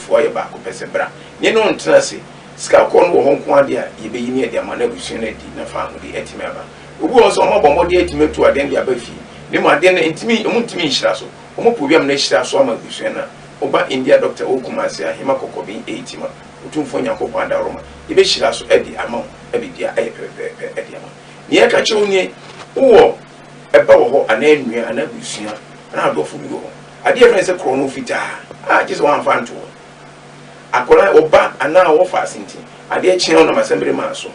foɔ yɛ baako pɛ sɛ bra ne no ntena ase sika kɔɔ no wɔ hɔ nko ara deɛ a yɛbɛyi ne adi ama no abusua no adi na fa ahode atumi aba obi wɔ hɔ nso a wɔabɔ mmɔden atumi atu adeɛ no de aba fie ne mu adeɛ no ntumi wɔn ntumi nhyira so wɔn pɛ obiam na ahyira so ama abusua no a woba India doctor wɔ Kumasi a hema kɔkɔben ɛti ma otumfoɔ Nyankopɔn adaworoma yɛbɛhyira so adi ama wo na biribiara ayɛ pɛpɛpɛpɛ adi ama nea ɛka kyerɛ wo nie wowɔ ɛba wɔ hɔ anaa nua anaa abusua anaa adɔfo bi wɔ hɔ. Adeɛ a yɛfrɛ no sɛ korɔno fitaa a gye sɛ wɔamfa anto hɔ. Akwadaa, ɔba anaa ɔwɔfaa ase nti, adeɛ kye a wonam asɛmbere maa so,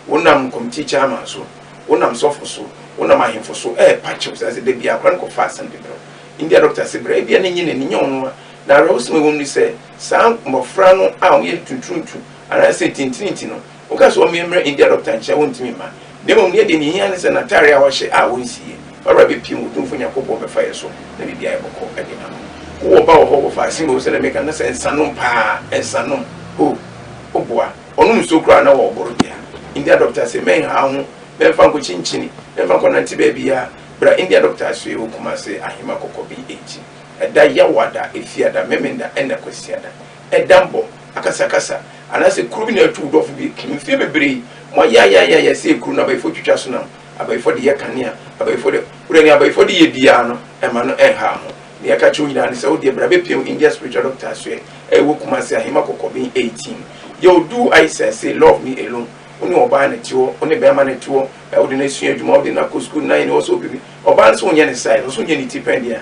wonam kɔmiti chairman so, wonam sɔfo so, wonam ahemfo so repa kyew saa sɛ da biara akwadaa no kɔfa asɛm de brɛ wo. India dɔkta se brɛ. Ebia na enye n'ani, ɛnyɛ nwonwa. Na awerɛhosɛm a ɛwom ne sɛ, saa mmofra no a wɔyɛ ntuturuntu anaasɛ ntintirinti no, Woka sɛ ɔmmea mmra India dɔkta nkyɛn a, wontumi mma. Na mmom neɛ deɛ nea ɛhia ne sɛ n'ataare a ɔhyɛ a ɔnsi yɛ. Ɔwura bɛpiem, Otumfo Nyankopɔn bɛfa yɛ so na biribi ayɛ bɔkɔ de ama wo. Wowɔ ba wɔ hɔ, wɔ faase mmom sɛdeɛ meka no, na sɛ nsa nom paa, nsa nom. Ho, wo boa. Ɔnom nsuo koraa na ɔreboro dea. India dɔkta se, Mɛnha wo ho, mɛmfa nkɔ kyinkyini, mɛmfa nkɔ nante baabiara. Bra India dɔkta asoɛe wɔ Kumase, Ahema kɔkɔ BH. Ɛda Yawoada, Efiada, Memenda ɛna Kwasiada. ɛdammɔ, akasakasa, anaasɛ kuro bi na atu wo dɔfo bi akum. Mfeɛ bebree, moayɛ ayɛ ayɛ ayɛ sɛ ekuro no abayifo twitwa so nam, abayifo de yɛ kanea, abayifo de. Wodeɛ nea abayifo de yɛ biara no, ɛmma no ɛnhaw ho. Nea ɛka kyerɛ wo nyinaa ne sɛ, wodeɛ bra bɛpia wo India Spiritual Doctor asoɛ a ɛwɔ Kumasi Ahema Kɔkɔben 18. Yɛ oduu Aisha se, love me alone, wo ne ɔbaa na ɛte hɔ, wo ne bɛɛma na ɛte hɔ, wode no asua adwuma, wode no akɔ sukuu, na yɛne wɔ sɛ wopɛ bi. Ɔbaa no sɛ wonyɛ ne size, ɔsɛ wonyɛ ne ti pɛn deɛ a,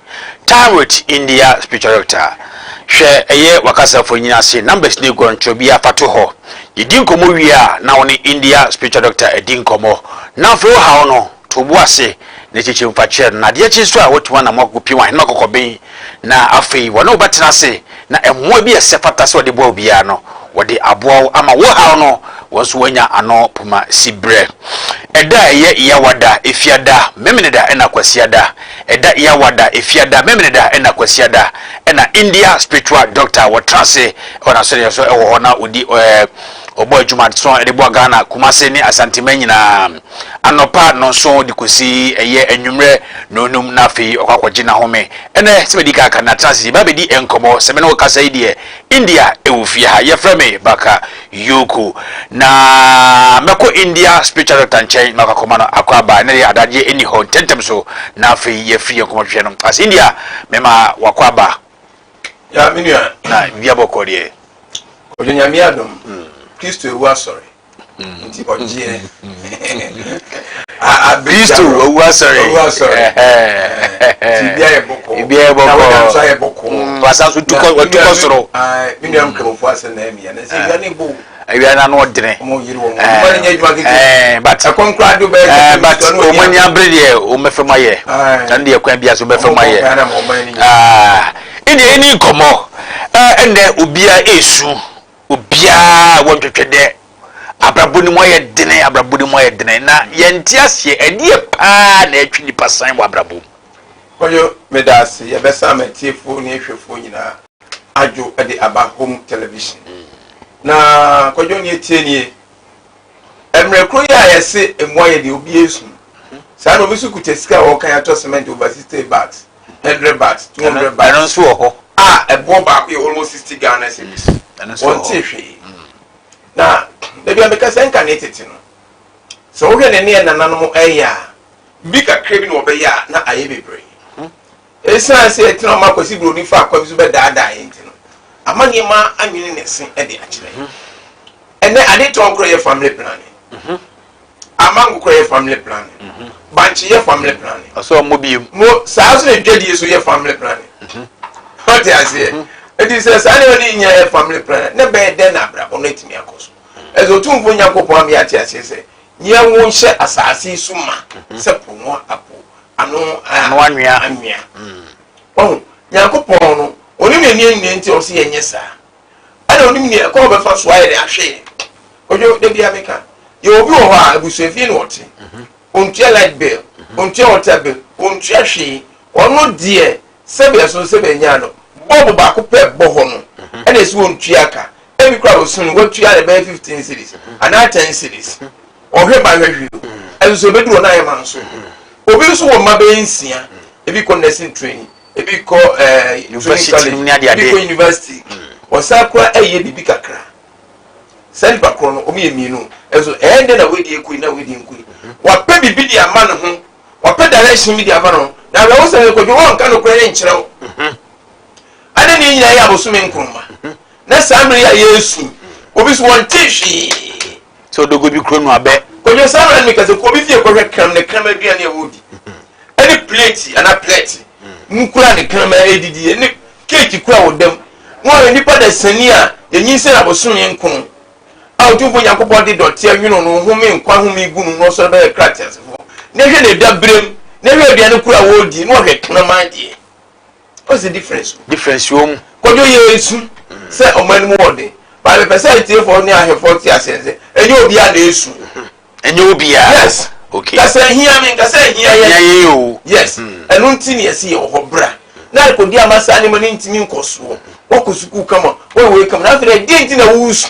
Time with India Spiritual Doctor, Hwɛ ɛyɛ w'akasafo nyina ase numbers ne guɔntrɔ biara fa to hɔ. Yɛdi nkɔmmɔ wie a na wo ne India Spiritual Doctor adi nkɔmmɔ. Na afei wo haw no, to wo bo ase na kyekyem fa kyerɛ no. Na adeɛ kye nso a, woatumi anam akɔpie w'ahenemma kɔkɔben. Na afei wɔne wo bɛtena ase na mmoa bi a ɛsɛ fata sɛ wɔde boa obiara no, wɔde aboa wo ama wo haw no, wɔn nso wɔanya ano poma siberɛ. Ɛda a ɛyɛ Yawada, Efiada, Memeneda ɛna Kwasiada, Ɛda Yawada, Efiada, Memeneda ɛna Kwasiada, ɛna India spiritual doctor a wɔtra ase wɔ n'asɔreɛ so wɔ hɔ na ɔdi ɔbɔ adwuma so de boa Ghana, Kumase ne Asanteman nyinaa. Anɔpa nnɔnson de kɔsi ɛyɛ anwummerɛ nnɔnnum na afei ɔkɔ akɔgye n'ahome. Ɛnnɛ, sɛ madi kan aka no, atena ase yɛbɛ abɛdi nkɔmmɔ. Sɛ me ne wo kasa yi deɛ, India wɔ fie ha. Yɛfrɛ me Baka Yoko. Na mɛkɔ India spiritual doctor nkyɛn na wakɔkɔma no akɔ aba. Ɛnnɛ deɛ adagyeɛ nni hɔ, ntɛmntɛm so na afei yɛafiri yɛn nkɔmmɔtwetwe no ase. India, mema wakɔ aba. Ya me nua. Na biribiara bɔkɔɔ deɛ? Ɔdɔ Nyame adom. Kristo awu asɔre. nti ɔgyeɛ kristo wawu asɔre tibia yɛ bɔkɔɔ wasan so tukɔ soro menuam nkramofoɔ asɛ na amia na sɛ awia ne bo awia no ano ɔdene but ɔmo ani abere deɛ ɔmɛfɛ mu ayɛ ɛno deɛ kwan bia so ɔmɛfɛ mu ayɛ ɛdeɛ ɛni nkɔmmɔ ɛnɛ obia ɛsu Obiara wɔdwetwe dɛ abrabɔ no mu ayɛ den, abrabɔ no mu ayɛ den, na yɛnntse aseɛ. Ɛdeɛ paa na ɛtwe nipa san wɔ abrabɔ mu? Kwadwo, meda ase. Yɛbɛsa m'atiefoɔ ne ahwɛfoɔ nyinaa adwo de aba Home Television. Na Kwadwo, neɛ ɛteɛ nie, mmerɛ korɔ yi a yɛse mmoa yɛ deɛ, obiara su. Saa na obi nso kuta sika a ɔrekan atɔ cement overseas stay bags. hundred baht, two hundred baht. Ɛno nso wɔ hɔ. A ɛboɔ baako yɛ almost sixty Ghana cedis. Ɛno nso wɔ hɔ. Wɔnte hwee. Mm. Na dabi a meka sɛ nka ne tete no, sɛ wohwɛ ne ne nananom ɛyɛ a, bi kakra bi na wɔbɛyɛ a na ayɛ bebree. Hmm. Esiane sɛ ɛtena ɔma Kwasi Buroni fa akwa bi so bɛdaadaa yɛn nti no, ama nneɛma anwene ne se de akyerɛ. Hmm. Ɛnɛ ade tɔn korɔ yɛ family planning. Hmm. ama nkokorɛ yɛ family planning mm -hmm. bankye yɛ family planning ɔsɛ ɔmmɔ biem mo saa so na dwadie so yɛ family planning mm -hmm. ɔte aseɛ mm -hmm. nti sɛ saa nneɛma no nyinaa yɛ family planning ne bɛyɛ dɛn na abrabɔ no atumi akɔ so ɛsɛ ɔtumfoɔ nyankopɔn ama yɛate aseɛ sɛ yɛn wo nhyɛ asaase so ma mhm. sɛ po no apo ano anwea anwea ɔho nyankopɔn no ɔne ne nneɛ nyinaa nti ɔsɛ yɛnyɛ saa ɛna onim nea ɛkwan ɔbɛfa so ayɛ de ahwɛ yɛn ojo da bia meka yɛ obi wɔ hɔ a abusuafie na ɔte mhm. ontua light bill mhm. ontua water bill ontua hwee ɔno deɛ sɛbi ɛso sɛbi ɛnya no bɔɔbo baako pɛ bɔ hɔ no mhm. ɛna esi wɔn tua ka ebi kura osun no watua ne bɛyɛ fifteen series anaa ten series ɔhwɛ ba hwɛ hwɛ ɛnso ebi duro na ayɛ ma nso obi nso wɔ mma bɛyɛ nsia ebi kɔ nursing training ebi kɔ ɛɛ training college ebi kɔ university wɔsan hmm. kura ɛyɛ biribi kakra saa nipa korɔ no wɔn yɛ mmienu ɛso ɛyɛ ndɛ na wɔadi ekui na wɔadi nkui hmm. wɔapɛ biribi de ama ne ho wɔapɛ direction bi de ama ne ho na awɛ wɔsɛn ne kɔdwe wɔn nka no kura ne nkyerɛw hmm. ɛna ne nyinaa yɛ abosome nkuruma na saa mmiri yɛ a yɛ esu obi so wɔn ti hwee. sɛ ɔdɔ guo bi kuro no a, bɛ. Kwadwo saa mmerɛ no meka sɛ, kɔ me fie kɔhwɛ kram ne kram aduane a wɔredi, ne pleeti anaa plɛte mu kura a ne kram redidiɛ, ne keeki kura a wɔda mu, na woahwɛ nnipa dasani a yɛnyinsɛn abosome nkron a Otumfoɔ Nyankopɔn de dɔteɛ nwono no ho me nkwa home gu no na ɔsɔre ba bɛkra ateasefoɔ, na hwɛ ne daberɛm, na hwɛ aduane kura a wɔredi, na ɔhwɛ kraman deɛ. What's the difference? Difference wɔ mu. Kwadwo yɛ esu sɛ ɔmo anim wɔ den. Baa mepɛ sɛ atiefoɔ ne ahwɛfoɔ te aseɛ sɛ ɛnyɛ obiara na esu. Ɛnyɛ obiara. Yes. Okay. Kasa ehia mi nkasa ehia yɛ. Ehia yɛ o. Yes. Ɛno nti ni ɛsi yɛ wɔ hɔ bra. Na rekodi ama saa nneɛma no ntumi nkɔ soɔ. Wakɔ sukuu kama, wɔyɛ wei kama. Na afei deɛ ɛdeɛ nti na wusu.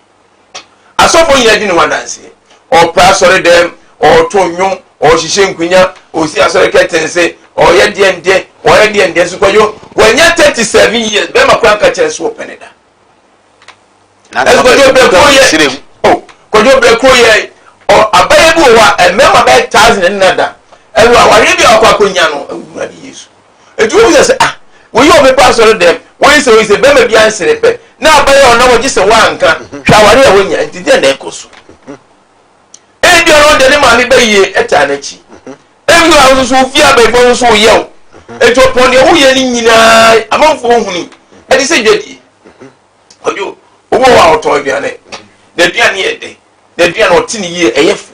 Asɔfo nyinaa di ne ho adanseɛ. Ɔpra asɔre dɛm, ɔɔto nnwom, ɔɔhyehyɛ nkunya, ɔsi asɔre kɛtense, ɔɔyɛ deɛn deɛn, ɔɔyɛ deɛn deɛn. So Kwadwo, wanya thirty seven years, bɛɛma koraa nka kyerɛ no sɛ ɔpɛ ne da. Nanso Kwadwo brɛ kuro yɛ, o, Kwadwo brɛ kuro yɛ, ɔ, abayɛ bi wɔ hɔ a, mmarima bɛyɛ thousand ne nada. Ɛwɔ awareɛ bi a wakɔ akɔnya no, awurade Yesu. Enti wohu sɛ sɛ, ah, wei yɛ ɔbɛpɛ asɔre dɛm, wei sɛ, wei sɛ, barima biara nsere pɛ, na aba yɛ ɔnna wɔ gye sɛ wanka, hwɛ aware a wanya, enti deɛ na ɛkɔ so. Ebi ɔno deɛ ne maame bɛ yie ɛtaa n'akyi. Ebi wɔ ahosuo so ofie abɛɛfo ahosuo oyɛ o. Enti ɔpɔn deɛ woyɛ ne nyinaa amanfoɔ huni ɛde sɛ dwadie. Ɔdwo, obi wɔ hɔ a ɔtɔn aduane, n'aduane yɛ dɛ, n'aduane ɔte ne yie ɛyɛ fo.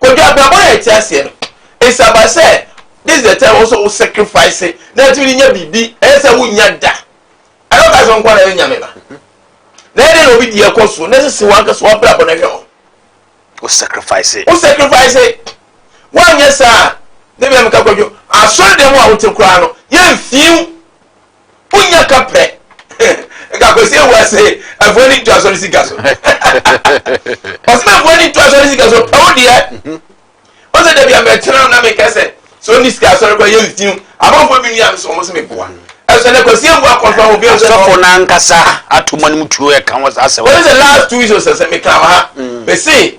Kwadwo abrabɔ na yɛte aseɛ no it's about sɛ this is the time wo nso wo sacrifice na atumi de nya biribi ɛyɛ sɛ wonnya da ɛna woka sɛ nkoa na ɛyɛ nyame ba na ɛdɛ na obi di ɛkɔ so na ɛsɛ sɛ wankasa wabrabɔ no hwɛ ho wo sacrifice wo sacrifice woanyɛ saa ne bia meka kwadwo asɔre dɛm a wote koraa no yɛmfiw Wonya ka prɛ. Nka Kwesi Awuah se Afuo ani ntu asɔre sika so. Ɔse na Afuo ani ntu asɔre sika so pɛ wo deɛ. Ɔse da bia mɛtena na meka sɛ sɛ ɔni sika asɔre kɔ yɛ nsiw. Abɔfoɔ bi nua nso wɔn se meboa. Ɛsɛ na Kwesi Awuah kɔnfa ho bio sɛ. Asɔfo no ankasa ato mu anim tuo ɛka ho saa asɛm no. Wɔn sɛ last two weeks ɔsɛ sɛ meka wɔ ha. Mese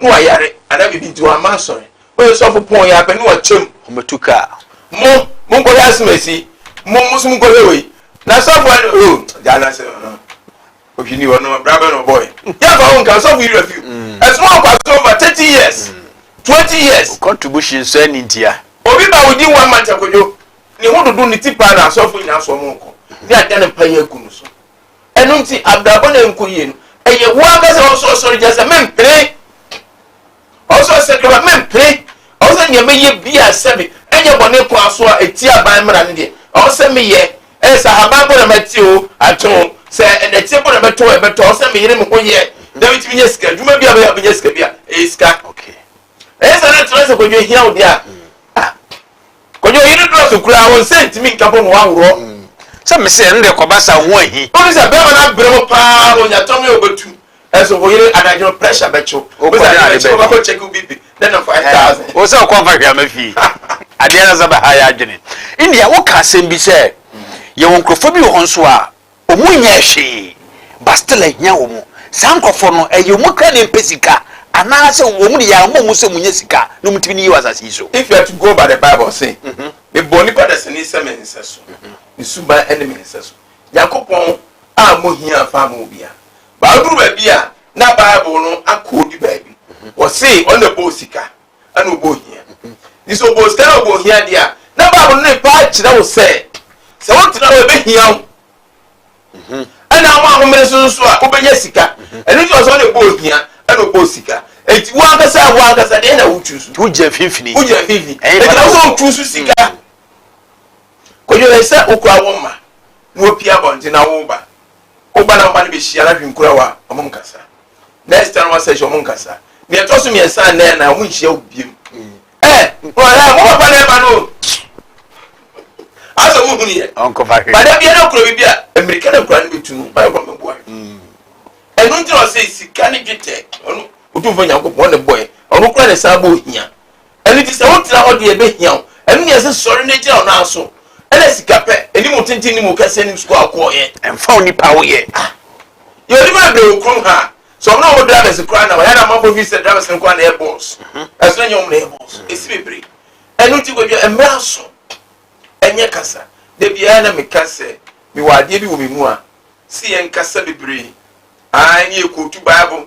na wayare anaa biribi nti wamma asɔre. Woyɛ sɔfo pɔn yi ara pɛ na wakyɛ mu. Wɔbɛtu ka a. Mo, monkɔhwɛ asomasi yi. Mo, mo nso monkɔhwɛ wei. Na sɔfo a, oh, gyaa no ase, uh, ohwi ni hɔ, no, bra bɛn na ɔbɔɔe. Yɛmfa ho nka, sɔfo yi werɛ fiw. Mm. Ɛso ma ɔkɔ asɔre over thirty years, mm. twenty years. O contribution nso ɛni ntia. Obi ba odi one month akodwo. Ne ho dodo ne ti paa na asɔfo nyinaa so ɔmo nkɔ. Ne ada ne mpa yɛ agu no so. Ɛno nti, abrabɔ no nkɔ yie no, ɛyɛ wo ankasa a ɔwɔ sɛ ɔsɔre gyina sɛ, Mempene! Ɔwɔ sɛ ɔsɛ kama, Mempene! Ɔwɔ sɛ nea mɛyɛ biara sɛbe ɛnyɛ bɔne ko ara so a ɛtia aban mmara no deɛ, ɔwɔ sɛ meyɛ. Ɛyɛ sɛ ahaban mpo na mate oo, atwe oo, sɛ nnɛteɛ mpo na mɛtɔ oo, ɛbɛtɔ. Ɔwɔ sɛ meyere me ho yɛ na metumi nya sika. Adwuma biara a mɛyɛ a mɛnya sika biara, ɛyɛ sika. Ɛyɛ saa na ɛtena sɛ Kwadwo ahia wo deɛ a, ah, Kwadwo ɔyi no dɔɔso koraa, wɔn nsa ntumi nka bɔ no waworɔ. Sɛ mese ɛno deɛ kɔba saa ho ahi. Wonim sɛ bɛrima no abrɛ mu paa, ɔnya tɔm yɛ ɔbɛtu, nso wo yere anadwo no pressure bɛkye wo. Wokɔ dɛn ade bɛdi? Wobɛkɔ check wo BP na nya five thousand. Wo sɛ wokɔ mfa hweama fie. Adeɛ no asa bɛha yɛn adwene. India, woka asɛm bi sɛ yɛwɔ nkurɔfoɔ bi wɔ hɔ nso a Ɔmo nyɛɛ hwee, Bastille ahia ɔmo. Saa nkorɔfoɔ no, ɛyɛ ɔmo kra na ɛmpɛ sika, anaasɛ ɔmo de yare ma ɔmo sɛ munya sika na ɔmo tumi ne yɛ wɔ asase yi so. If you are to go by the Bible, ɔse, Mebɔɔ nnipa dasani sɛ me nsɛso, me suban ne me nsɛso. Nyankopɔn a mo hia mfaa mo obia. But aduru baabi a na Bible no akɔ ɔdi baabi. Ɔse ɔna bɔɔ sika. ɛna ɔbɔ ohia nti sɛ ɔbɔ sika na ɔbɔ ohia deɛ a na bible no ne paa kyerɛ wo sɛ sɛ wotena hɔ ɛbɛhia wo mhm. ɛna ama ahomene so nso a wobɛnya sika mhm. ɛno nti ɔsɛ ɔne bɔ ohia ɛna ɔbɔ sika eti wo ankasa wo ankasa deɛ na wotwi so wogyina mfimfini wogyina mfimfini eti na sɛ wotwi so sika mhm. kodwere sɛ wokura wo mma na wopia abɔnten na woba Wo ba na wo mma no behyia no ahwɛ nkurow a wɔnkasa. Next time wɔn session wɔnkasa. Nea ɛtɔ so mmiɛnsa anaa ɛnan wɔnhyia wo biom. Ɛ ɛ mo papa na ɛma no o. Asɛ mo hunu yɛ. Bada biara na kura biribi a mmirika na nkura no betu no. Mayɛ kura mɛboa. Ɛno nti na ɔsɛ sika ne dwetɛ ɔno otumfo Nyankopɔn ne bɔe ɔno kura ne saa bɔ ohia. Ɛno nti, sɛ wotena hɔ deɛ, ɛbɛhia wo. Ɛno na ɛsɛ sɔre na gyina wo nan so. Ɛna sika pɛ, anim tenten ne mu kɛseɛ nim sukuu a wokɔeɛ. Ɛmfa onipa a woyɛ. Ah! Yɛ onipa bebree wɔ kurom ha. Sɛ wɔn a wɔwɔ drivers koraa na wɔyɛ a na amanfoɔ feel sɛ drivers no nko ara na ɛyɛ boss. Nanso na ɛnyɛ wɔn na ɛyɛ boss. Ɛsi bebree. Ɛno nti Kwadwo, mmra so ɛnyɛ kasa. Da biara na meka sɛ mewɔ adeɛ bi wɔ me mu a, se yɛnkasa bebree. Ae, ne yɛkootu Bible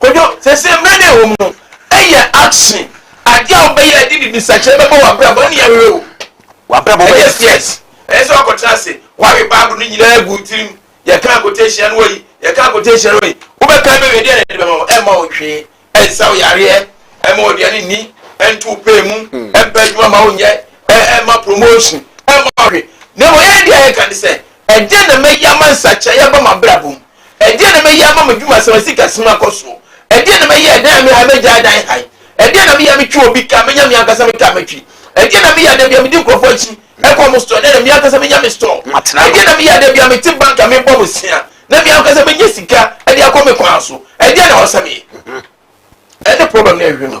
Kojo, Seesei mmerɛ no a ɛwɔ mu no, yɛ action, adeɛ a wobɛyɛ a ɛde bibisakyerɛ bɛbɔ w'abrabɔ ne awerɛ o. W'abrabɔ bɛyɛ. Ɛyɛ CS, ɛyɛ sɛ woakɔtena ase, woawe Bible no nyinaa agu wo tirim, yɛkaa quotation no wɔ yi, yɛkaa quotation no wɔ yi, wobɛkan bɛwie a deɛn na ɛde bɛma wo? Ɛmma wo hwee, ɛnsa wo yareɛ, ɛmma wo aduane nni, ɛnto wo pɛɛ mu, ɛmpa adwuma mma wo nyɛ, ɛmma promotion, ɛmma wo hwee. Na mmom yɛn deɛ a yɛka ne sɛ, ɛdeɛn na mɛyɛ ama nsakyeraeɛ aba m'abrabɔ mu? Ɛdeɛn na mɛyɛ ama m'adwuma sɛ m'asikasem akɔ soɔ? Ɛdeɛn na mɛyɛ ɛdan a mehae mɛgyae dan hae? Ɛdeɛn na meyɛ a metwe obi ka a menya me ankasa me ka matwi? Ɛdeɛn na meyɛ a da biara medi nkurɔfoɔ akyi kɔ wɔn store na ɛnna me ankasa menya me store? Ɛdeɛn na meyɛ a da biara mete bank a mebɔ bosea na me ankasa menya sika de akɔ me kwan so? Ɛdeɛn na ɛwɔ sɛ meyɛ? Ɛne problem no a ɛhwehwɛ no.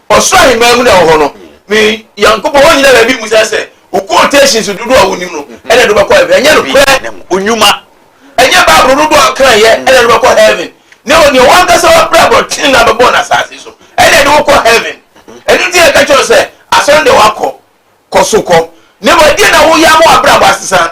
Ɔsoro ahemman mu na ɛwɔ hɔ no, me Nyankopɔn, wonnyina baabi mmusa sɛ, Wo quotations dodoɔ a wonim no na ɛde wobɛkɔ heaven? Ɛnyɛ nokorɛ, onwuma. Ɛnyɛ Bible no dodoɔ a wokan yɛ na ɛde wobɛkɔ heaven. Na mmom deɛ w'ankasa w'abrabɔ tene na bɛbɔɔ no asase so ɛna ɛde wo kɔ heaven. Ɛno nti na yɛka kyerɛ wo sɛ, Asɔre no deɛ woakɔ, kɔ so kɔ. Na mmom ɛdeɛn na woyɛ ama w'abrabɔ asesa?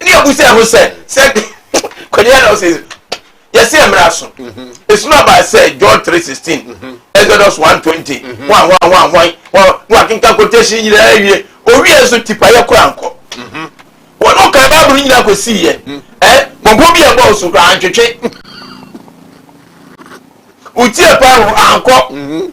ne abusa ho sɛ sɛ kwani ana ɔsɛ yɛsɛ mmara so esunu aba sɛ John three sixteen Exodus one twenty ho ahoa ho ahoa ho no akenka quotation nyinaa awie owie nso tipayɛ kora nkɔ wɔn no kan baabulu nyinaa kɔ si yɛ ɛ bɔbɔ bi a ɛbɔ so kora antwetwe wotie paa ho ankɔ.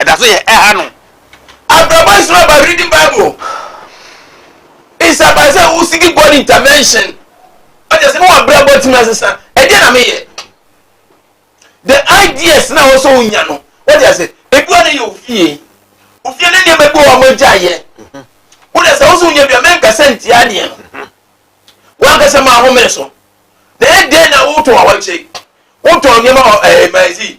ɛda so yɛ ɛha no. Abrabɔ is not about reading bible it's about sɛ wo seek God intervention ɔkyɛ sɛ ne wɔ abrabɔ tumi asesa ɛdeɛ na meyɛ the ideas na wɔ sɛ wonya no wɔde ase ebi wɔ ne yɛ ofie ofie ne nneɛma bi wɔ wɔn gya yɛ wo de sɛ wo so wonya bi a mɛnkasa ntia deɛ no wankasa ma ahome so na ɛdeɛ na wotɔn awɔkye wotɔn nneɛma wɔ ɛɛ eh, manzi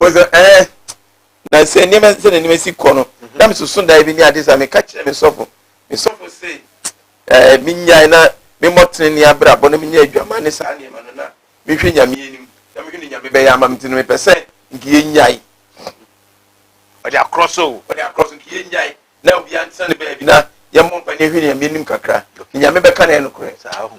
wɔsɛ ɛɛ na sɛ nneɛma sɛ na nneɛma si kɔ no na me soso dan bi ne ade sa meka kyerɛ me sɔfo me sɔfo se ɛɛ me nyae na me mmɔ tenene abrabɔ na me nyɛ adwama ne saa nneɛma no na me hwɛ nyame anim na me hwɛ ne nyame bɛyɛ ama me ti no mepɛ sɛ nka yɛ nyae ɔde akorɔ so ɔde akorɔ so nka yɛ nyae na obi antena ne baabi na yɛ mmɔ mpa ne hwɛ ne nyame anim kakra nyame bɛka na yɛ no korɛ saa ho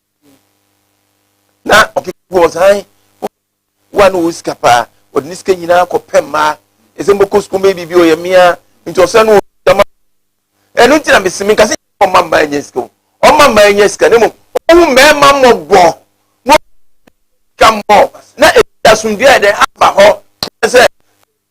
na ɔkeka wɔ ɔsan wa no wɔ sika paa ɔde ne sika nyinaa kɔ pɛ mmaa ɛsɛ mbɔkɔ sukuu mbɛyɛ biribi ɔyɛ mmea nti ɔsan no wɔ sika ma ɛno nti na mesi mi nkasa ɔma mmaa nyɛ sika ɔma mmaa nyɛ sika ne mu ɔhu mmarima mmɔbɔ na sika mmɔ na ɛdi asomdua yɛ dɛ aba hɔ sɛ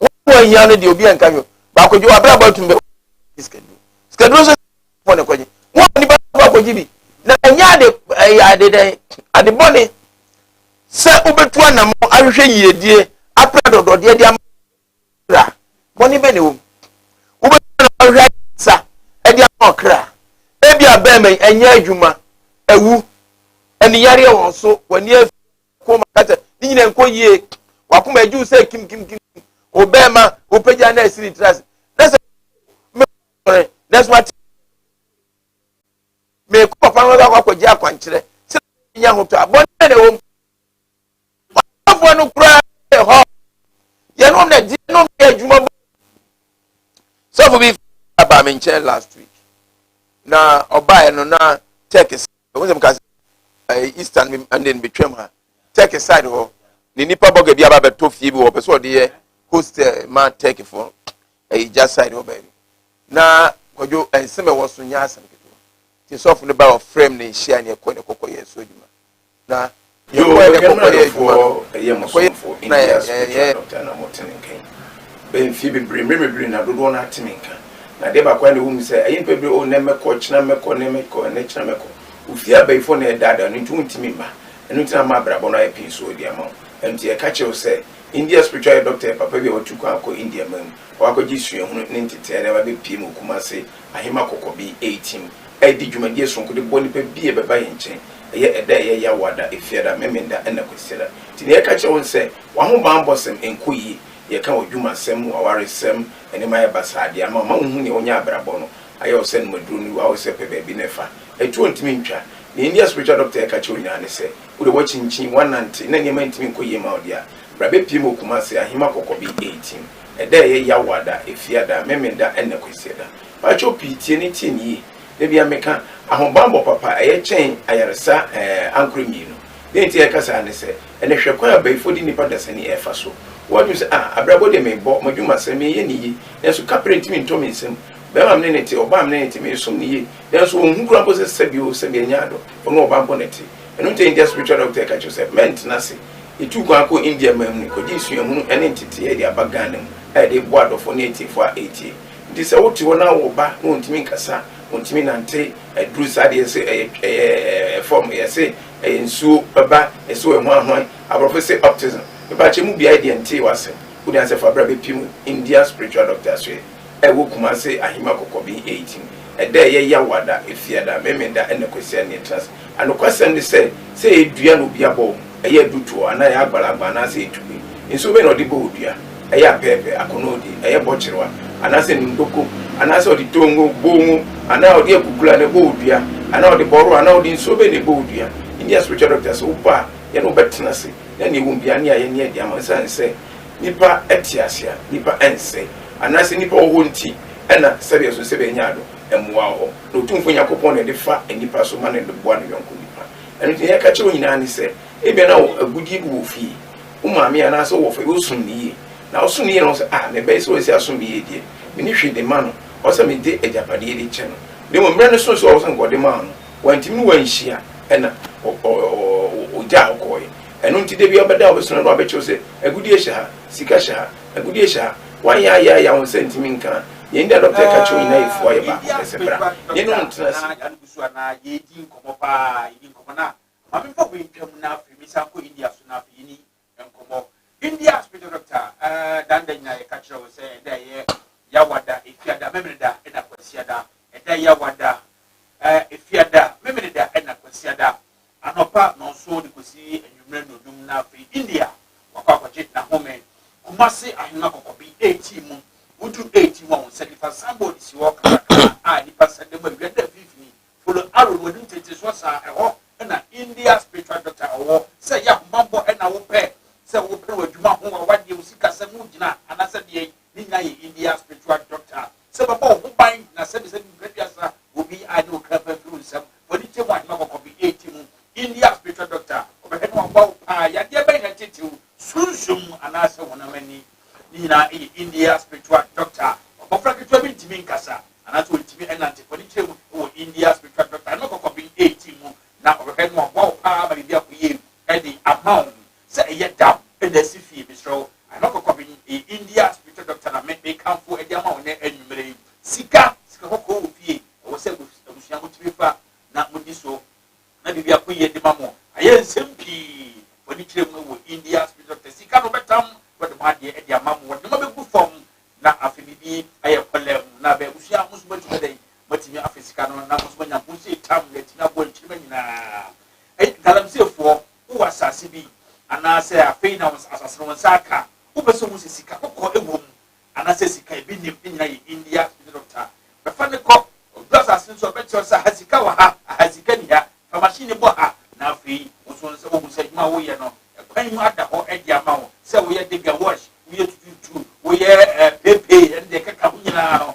Wɔn a wɔhia no deɛ obi anka hwɛ. Baako gye w'abrabɔ atum bɛ. Sikaduro. Sikaduro nso fɔ ne kɔgye. Mo a nipa fɔ akɔgye bi. Na ɛnyɛ ade ɛyɛ ade dɛn ade bɔne sɛ wobɛtu anamɔ ahwehwɛ yiedie apra dɔdɔdeɛ de ama kra. Bɔne bɛ na ɛwɔ mu. Wobɛtu anamɔ ahwehwɛ ayɛsa de ama ɔkra. Ebi abɛɛma yi ɛnyɛ adwuma, awu, aniyareɛ wɔn so, w'ani afi. kɔn mu aka sɛ ne nyina nkɔ yie wakoma agye wo sɛ kimkimkim wo bɛɛma wopagya na asiri tra ase na sɛ mɛsɔre nanso wate mekɔ papa no akɔ akɔgye akwankyerɛ sɛ nya ho tɔ a bɔne na ɛwɔ mu ɔfoɔ no koraa yɛ hɔ yɛnom na gye nom yɛ adwuma bɔ sɔfo bi aba me nkyɛn last week na ɔbaeɛ no na tɛk Ɛho sɛ meka sɛ Easter no ɛnde no betwam ha Turkey side hɔ ne nipa bɔga bi aba bɛtɔ fie bi wɔ ɔpɛ sɛ ɔde yɛ host eh, ma Turkey fo ɛyɛ gya side hɔ baabi na kwadwo ɛnsɛm ɛwɔ so nyɛ asɛm ketewa nti sɔfo no ba ɔfrɛ m na yɛhyia ne ɛkɔ ne kɔkɔ yɛ so adwuma na Yɛn mu a yɛkɔ kɔyɛ adwuma no, ɛyɛ mo somfo, India spiritual doctor, na mote ne nka yi bɛn mfeɛ bebree, mmerɛ bebree, na dodoɔ no ara te me nka. Na adeɛ baako ara na ɛwɔ mu sɛ, ɛyɛ nnipa bebree, oh, nnɛ mɛkɔ, ɔkyena mɛkɔ, nnɛ mɛkɔ, ɛnnɛ kyena mɛkɔ. Ofie abayifoɔ na ɛdaadaa no, enti wontumi mma. Ɛno nti na ama abrabɔ no ayɛ pee so de ama wo. Ɛno nti yɛka kyerɛ wo sɛ, India spiritual yɛ doctor yɛ papa bi a watu kwan akɔ India man mu, ɔakɔgye suahunu ne ntetee na ɛba bɛpue ma wo Kumasi ahema kɔkɔ bi reteam a edi dwumadie soronko de bɔ nipa bi a ɛbɛba yɛn nkyɛn, ɛyɛ ɛda a ɛyɛ yaw wɔ ada, efiada, memenda ɛna kwasiada. Nti nea yɛka kyerɛ wɔn ne sɛ, wɔn ahobanbɔsɛm nkɔ yie, deɛ ɛka w'adwumasɛm, w'awaresɛm, nneɛma ayɛ basaa de ama wo, ma wonhu nea wonyɛ abrabɔ no ayɛ wo sɛ nomaduro no wura wo sɛ pɛ baabi na fa, atuo ntumi ntwa. Nea ndia spiritual doctor yɛ ka kyerɛ wo nyinaa ne sɛ, wo deɛ woakyinkyin, woanante na nneɛma ntumi nkɔ yie ma wo deɛ a, bra bɛpie ma wo Kumasi, ahema kɔkɔ bi reteam. ɛda a ɛyɛ yaw ada, efiada, memeda na kwasiada. Mpakyɛw pii tie no tie no yie. Da biara meka, ahobanbɔ papa ɛyɛ kyɛn ayaresa ɛɛ ankorɛ mmienu. Dɛn nti a yɛka saa ne sɛ, ɛnɛ hwɛ kwan a abayifoɔ de nnipa dasani ɛɛfa so. Wo adwene sɛ ah abrabɔ deɛ meebɔ madwuma sɛ meeyɛ no yie nanso kaprɛ ntumi ntɔ me nsam. Bɛɛma a me ne no te, ɔbaa a me ne no te meesom no yie nanso ɔnhu koraa mpo sɛ sɛbi oo sɛbi ɛnyɛ adɔ, ɔno ɔba mpo na ɛte. Ɛno nti a India spiritual doctor ɛka kyerɛ wo sɛ mɛntena ase. Yetuu kwan kɔɔ India man mu kɔgyee suahunu ne nteteeɛ de aba Ghana mu a yɛde reboa adɔfoɔ ne atiefoɔ a ɛretie. Enti sɛ wote hɔ na wowɔ ba na ɔntumi nkasa, ɔntumi nnante, aduru saa deɛ yɛse ɛyɛ ɛyɛ ɛɛ fam, yɛse ɛyɛ nsuo ɛba, yɛse ɔyɛ hwanhwan, aborɔfo se autism, mepa kyɛ mu biara deɛ ntee w'asɛm, wo deɛ ansɛ fa bra bɛpem India spiritual doctor asoɛ. Ɛwɔ Kumase Ahima Kɔkɔbi Eyitim ɛda a ɛyɛ yaw ada, Efiada, Memeda ɛna Kwasiada na ɛtena ase. Anokwasɛm ne sɛ, sɛ ɛyɛ dua na obi abɔ wo, ɛyɛ adutoɔ anaa ɛyɛ agbalagba anaasɛ ɛyɛ tupe. Nsuo bɛn na ɔde bɔ wo dua? Ɛyɛ apɛɛpɛ, akonoodi, ɛyɛ bɔkyerewa anaasɛ nimdoko anaasɛ ɔde tongo, bongo anaa ɔde akukula na ɛbɔ wo dua anaa ɔde bɔro anaa ɔde nsuo bɛn na ɛbɔ wo dua? India spiritual doctor sɛ woba a, yɛne wo bɛtena ase na nea ɛwɔ mu biara ne ayɛ ne adi ama wo esiane sɛ Nnipa te ase a, nnipa nsɛe, anaasɛ nnipa wɔ hɔ nti na sɛdeɛ ɛsɛ sɛ bɛnya ado mmoa wɔ hɔ, na Otumfoɔ Nyankopɔn na ɛde fa nnipa so ma no de boa ne yɔnko nnipa. Ɛno nti, nea yɛka kyerɛ wo nyinaa ne sɛ, ebia na wo agudeɛ bi wɔ wo fie, wo maame anaasɛ wo wɔfa bi, wosom no yie, na wosom no yie na wohu sɛ, Ah, me ba yi, sɛ ɔsɛ asom me yie deɛ, menni hwee de ma no, ɔwɔ sɛ mede agyapadeɛ de kyɛ no. Na mmom mmerɛ no soo sɛ ɔwɔ sɛ anka ɔde maa no, wantumi na wanhyia na ɔgyaa hɔ kɔeɛ. Ɛno nti da biara ɔbɛdan ɔbɛso n'ano abɛkyerɛw sɛ, Agudie hyɛ ha, sika hyɛ ha, agudie hyɛ ha. Woanyɛ ayɛ ayɛ a wo nsa ntumi nka a, yɛn nyi a dɔkta reka kyerɛ wo nyinaa yɛ fua, yɛ baako pɛ, sɛ bra yɛne wo ntena ase. Anɔpa nnɔnson de kɔsi anwummerɛ nnɔdum na afei India wakɔ akɔgye n'ahome. Kumasi ahemma kɔkɔbi etii mu. Wodu etii mu a, wɔn nsa nifa signboard si hɔ kakrakaa a nnipa nsa da mu awia da mfimfini. Follow arrow no, wɔnim tete soɔ saa. Ɛhɔ na India spiritual doctor wɔ. Sɛ ɛyɛ ahobammɔ na wopɛ, sɛ wopere w'adwuma ho, w'awadeɛ, wo sikasɛm ho gyina anaasɛ deɛn, ne nyinaa yɛ India spiritual doctor. sɛ bɛbɔ wo ho ban na sɛbisa bi brɛ biasa obi a ne okra pa mfiri wo nsam wɔ ne kyɛ mu ahema kɔkɔ bi ɛti mu India spiritual doctor ɔbɛhwɛ ne waboa wo paa yadeɛ bɛn na tetew sunsum anaasɛ honam ani ne nyinaa ɛyɛ India spiritual doctor ɔbɔfra ketewa bi ntumi nkasa anaasɛ ɔntumi ɛnante fɔ ne kyerɛ mu wɔ India spiritual doctor ahema kɔkɔ bi ɛti mu na ɔbɛhwɛ ne waboa wo paa ma biribi akɔyie ɛde ama wo sɛ ɛyɛ dap na asi fie mesrɛ wo ano kɔkɔ me ɛyɛ India spiritual doctor na me mekamfo de ama wo nɛ anwumerɛ yi sika sika kɔkɔɔ wɔ fie ɛwɔ sɛ abusua mo tumi fa na mo di so na biribi ako yie de ma mo ayɛ nsɛm pii fɔ ani kyerɛ mu wɔ India spiritual doctor sika no bɛtam na ɔde mo adeɛ de ama mo wɔde nneɛma bɛgu fam na afei biribi ayɛ kɔlɛ mu na bɛ abusua mo nso moatumi adɛn moatumi afɛ sika no na mo nso moanya ho sɛ tam na atumi aboa nkyirima nyinaa ɛyɛ galamseyfoɔ wowɔ asase bi anaasɛ afei na asase no wo nsa aka a, wopɛ sɛ wohu sɛ sika kɔkɔɔ wɔ mu anaasɛ sika a ebi nnim nyinaa yɛ India ne Doctor. Fa no kɔ. Odu asase no so a, ɔbɛkyerɛ wo sɛ aha sika wɔ ha, aha sika nni ha. Fa machine no bɔ ha na afei wo nso wo sɛ wohu sɛ adwuma a woyɛ no kwan mu ada hɔ de ama wo. Sɛ woyɛ Debbie Wash, woyɛ Tututu, woyɛ Pay Pay ne deɛ ɛkeka ho nyinaa no,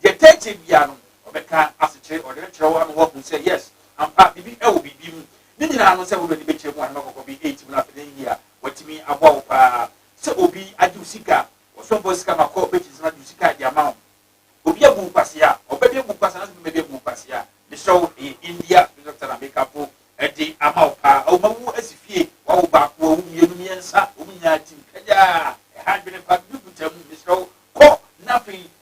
Deɛ ɛtaa tie biara no, ɔbɛka asekyerɛ, ɔde no kyerɛ wo ama woahu sɛ yes, ampa, biribi wɔ biribi mu. Ne nyinaa no, sɛ wode w'ani bɛkyerɛ mu a, na makɔkɔ bi ɛretim no afei na yiye a, watumi aboa wo pa ara. Sɛ obi agye wo sika a, ɔsomfo wɔ sika ma kɔ bɛgye nsɛm agye wo sika a, de ama wo. Obi abu wo kwasea a, ɔbɛde abu wo kwasea anaasɛ obi bɛde abu wo kwasea a, mesrɛ wo, ɛyɛ India Bishop Tana Mekafo de ama wo pa ara. Awoma wu asi fie, wawo baako, wawo mmienu, mmiɛnsa, wɔn nyinaa tim kagyaa, ɛha adwene pa, biribi kuta mu, mesrɛ wo, kɔ na afei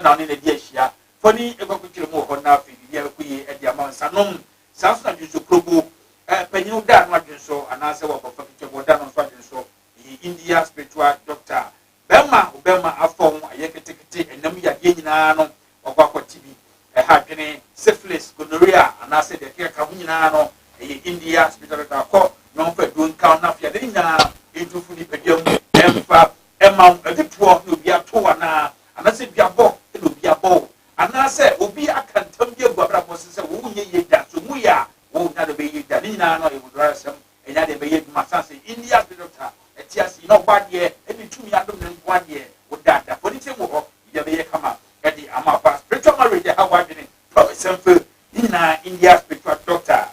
na ɔne no adi ahyia. Fa ni kɔ akɔkyerɛ mu wɔ hɔ na afei biribiara kɔ yie de ama wo nsa nom. Saa nso na dwensɔ kurobo, eh, panyin wo da no adwensɔ anaasɛ w'abɔfra ketewa bi ɔda no nso adwensɔ. Ɛyɛ India spiritual doctor bɛrima wo bɛrima afɔ ho ayɛ ketekete ɛnam yadeɛ nyinaa no wakɔ akɔte bi. Ɛha adwene, syphilis, gonorrhea anaasɛ deɛ ɛkekaka ho nyinaa no ɛyɛ India spiritual doctor akɔ na ɔmfa aduro nka wo na afei ade no nyinaa ntu firi nipadua mu ɛmfa ɛma wo adutoɔ na obi ato wo anaa Anaasɛ duabɔ na obi abɔ wo, anaasɛ obi aka ntam bi agu w'abrabɔ so sɛ wonyɛ yie da, sɛ omu yɛ a, wɔn nya dɛ bɛyɛ yie da. Ne nyinaa no, ɛyɛ Odurayɛsɛm, ɛnyɛ adeɛ ɛbɛyɛ adwuma. Asiane sɛ India's witch doctor te ase yi, na ɔbɔ adeɛ de tumi adom no nko ara deɛ, wo da da fɔ ne tirim wɔ hɔ, biribi abɛyɛ kama de ama wo paa. Spiritual marriage ɛha w'adwene, promise and fail, ne nyinaa India's spiritual doctor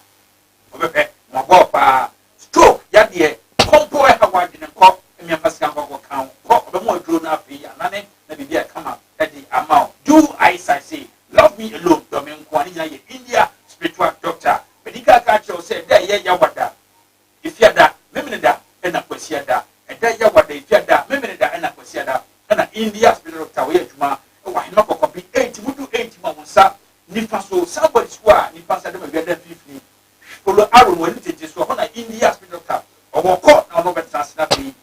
Ɔbɛpɛ mmɔbɔɔ paa. Stroke yadeɛ, kɔ mpo ɛha w'adwene kɔ mmeafa sika nkɔ kɔ kan wo kɔ ɔbɛma wo aduro no afei anane na biribi a ɛkama de ama wo do as I say love me alone dɔ me nkoa ne nyinaa yɛ India spiritual doctor medical ka kyerɛ wo sɛ ɛda a ɛyɛ yawada efiada memeneda ɛna kwasiada ɛda yawada efiada memeneda ɛna kwasiada ɛna India spiritual doctor wɔyɛ adwuma wɔ ahema kɔkɔbe eight mu du eight mu a wo nsa Nifa so, Southward Square a nnipa nsa da mu a wiada mfinimfini, Polo Arow no anim tenten so, ɛhɔ na India Spiritual Cup ɔwɔ kɔ na ɔno ɔbɛtra ase na afei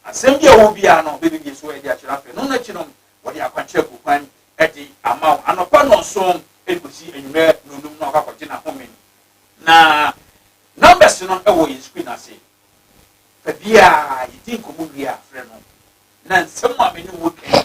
asɛm bi a ɛwɔ hɔ biara no bɛbɛbie so de akyerɛ afei ɛno no akyi no wɔde akwankyerɛ agu kwan de ama wo anɔpa nnɔnson de kɔsi anwummerɛ nnɔnum na wakɔ akɔgye n'ahome no na numbers no wɔ yɛn screen ase fa biara yɛdi nkɔmmɔ wie a frɛ no na nsɛm a me ne wo kɛn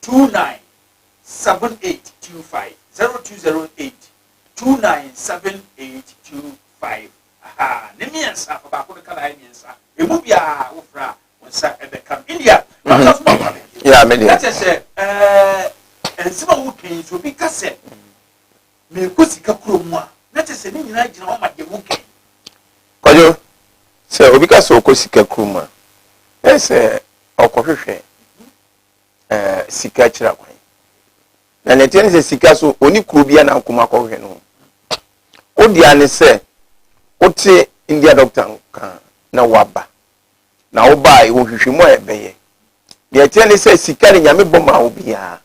two nine seven eight two five zero two zero eight two nine seven eight two five aha ne mmiɛnsa fa baako no ka na ayɛ mmiɛnsa emu biara wofra a wɔn nsa ɛbɛka no india na wɔn nsa so ma wɔn abɛn bio Yeah, me deɛ. ɛkyɛ sɛ ɛɛ nsɛm a woka yi so obi ka sɛ meekɔ sika kuro mu a na kyɛ sɛ ne nyinaa gyina hɔ ma deɛ woka yi kwadwo sɛ obi ka sɛ ɔkɔ sika kurom a ɛyɛ sɛ ɔkɔhwehwɛ ɛɛ sika akyira kwan na nea ɛteɛ ne sɛ sika so ɔni kuro bia na akoma akɔhwɛ no wodeɛ ne sɛ wote india doctor nka na woaba na wobaa ɛwɔ hwehwɛ mu a ɛbɛyɛ nea ɛteɛ ne sɛ sika ne nyame bɔ ma wo biara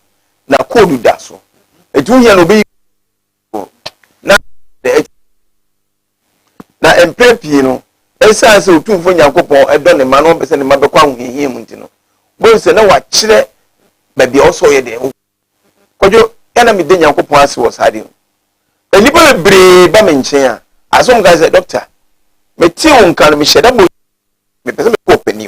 na koodu da so ɛti wohia na ɔbɛyi mu na na ɛkyerɛ na mpɛn pii no ɛsiane sɛ otumfo nyankopɔn ɛdɔ ne mma na ɔmpɛ sɛ ne mma bɛkɔ ahohiahia mu nti no bohu sɛ na wakyerɛ baabi a ɔsɛ ɔyɛ dɛn kɔdwo yɛ na mede nyankopɔn ase wɔ saa de ho nnipa bebree ba me nkyɛn a asɛ ɔmka sɛ dɔkta metee wo nka no mehyɛ da bɔ mepɛ sɛ mekɔ ɔpani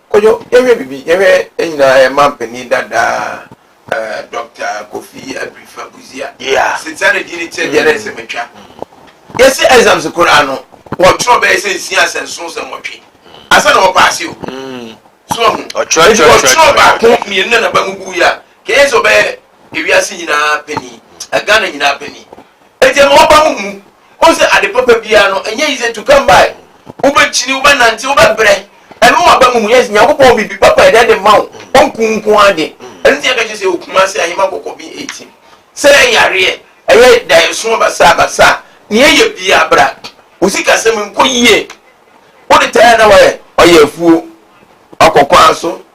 Kojo, yɛnhwɛ biribi, yɛnhwɛ yɛn nyinaa yɛn manpanin dada eh, Dɔkta Kofi Abirifa Busia. Yeah. Sitsa ne din ne kyerɛ deɛ na ɛsɛ matwa. Yɛsɛ exams koraa no, wɔtwerɛ bɛyɛ sɛ nsia sɛ nson sɛ nwɔtwe. Ansa na wɔpaase o. So ahu. Nti wɔtwerɛ baako mmienu na naba mu buu ya. Kɛyɛ sɛ ɔbɛyɛ ewiase nyinaa panin, Ghana nyinaa panin. Nti ɛma wɔba mu mu Wohu sɛ ade papa biara no, ɛnyɛ easy to come by. Wobɛkyini, wobɛnante, wobɛbrɛ. Ɛno wɔ aba mu. Yes, Nyankopɔn wɔ biribi papa a ɛda adi ma wo. Ɔnku wo nko ara de. Ɛno nti na yɛka kyerɛ sɛ wɔ Kumasi, Ahema Kɔkɔɔ bin 18, sɛ ɛyɛ yareɛ, ɛyɛ daeɛso basaa basaa a, nea ɛyɛ biara bra. Wo sikasɛm nkɔ yie. Wode tire a na woayɛ, ɔyɛ afuo. Woakɔ kwan so.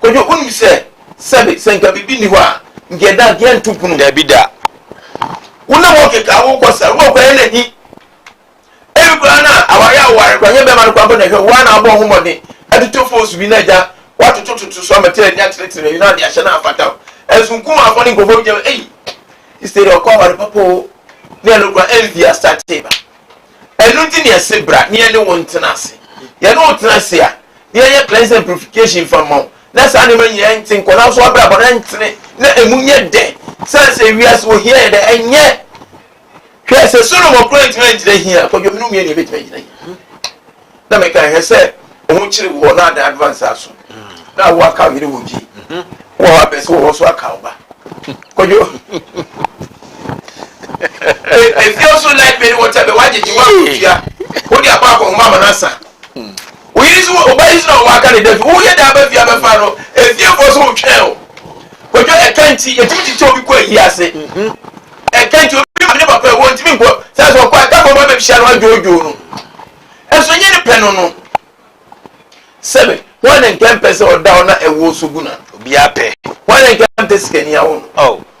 Kojo, wonim sɛ sɛbe sɛ nka biribi nni hɔ a, nka ɛda nka yɛnto pono. Dabi da. Wo ne wɔn keka, wokɔ saa, wokɔ kora yɛ na hi. Ebi koraa na aware a woware koraa, nyɛ bɛrima no koraa mpo na ɛhwɛ, woa na abɔ ho mmɔden atoto foosu bi na agya woatotototo so ama tiri ani atenetene baabi na ɔde ahyɛ na afata wo. Ɛnso nkumafoɔ ne nkurɔfoɔ bi gyina hɔ, ei, Easter de ɔkɔ aware papa o, ne ɛno koraa envy astate ba. Ɛno nti na yɛse bra ne yɛne wo ntena ase. Yɛne wo tena ase a, na yɛnyɛ cleansing and purification mfa mma wo, na saa nneɛma nyinaa nte nkɔ, nanso w'abrabɔ no ntene, na emu nyɛ dɛ. Sane sɛ wiase wɔ hia yɛ dɛ? Ɛnyɛ. Hwɛ, sɛ Solomon koraa antumi angyina hia, kwadwom no mmieni ebetumi agyina hia. Na meka hwɛ sɛ ɔho kyere wɔ na adan advance aso, na awo aka yere wɔ gye, wɔ hɔ abɛsi wɔ hɔ so aka ɔba. Kwadwo. Efie nso light bɛ ne wɔkyɛ bɛ wagyegye wɔn akotua, wɔde abɔ akɔnhoma ama n'asa. Wo yere so wɔ ɔba yi so na ɔwɔ aka ne da fi wo yɛ dɛn aba fie abɛfa no efiefoɔ so wo twɛn o kwadwo ɛka nti yɛtumi kyekyɛ obi kɔ ayie ase ɛka nti obi maame ne papa ɛwɔ ntumi nkɔ saa sɛ ɔkɔ ɛka fɔm abɛhyia no adwoodwoo no ɛso nyɛ ne pɛ no no sɛbe wɔn ne nkɛmpɛ sɛ ɔda hɔ na ɛwɔ so gu na obiara pɛ wɔn ne nkɛmpɛ sikani awo no oh.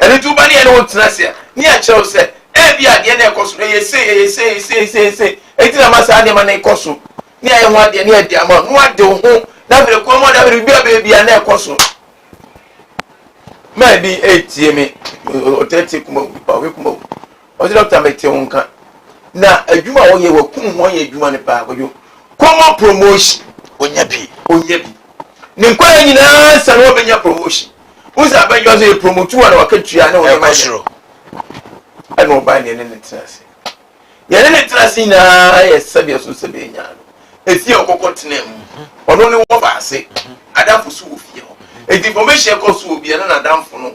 Ɛno nti, woba ne yɛne wo ntena ase a, ne yɛakyerɛ wo sɛ, Ebia adeɛ no a ɛrekɔ so no, ɛyɛ sei, ɛyɛ sei, ɛyɛ sei, sei, sei, enti na ama saa nneɛma no rekɔ so, ne yɛayɛ ho adeɛ, ne yɛde ama wo, na woade wo ho, na afei kɔn mu a, na afei biribi a ɛbɛyɛ biara na ɛrekɔ so. Maa bi retie me, ɔtaa tie kumawu, ɔhwɛ kumawu, Ɔse doctor mete wo nka na adwuma a woyɛ wakum ho ayɛ adwuma no paa kwadwo kɔmɔ promotion onya bi onya bi ne nkɔla nyinaa nsa na wabɛnya promotion wo sɛ abɛnyɛ ɔsɛ yɛ promotu a na waka tua ne wɔyɛ ma yɛ ɛna ɔbaa ne ne ne tena ase yɛne ne tena ase nyinaa yɛ sɛdeɛ so sɛ bɛnya no ɛfie a ɔkɔkɔ tena mu ɔno ne wɔfa ase adamfo so wɔ fie hɔ ɛti information ɛkɔ so wɔ bia na nadamfo no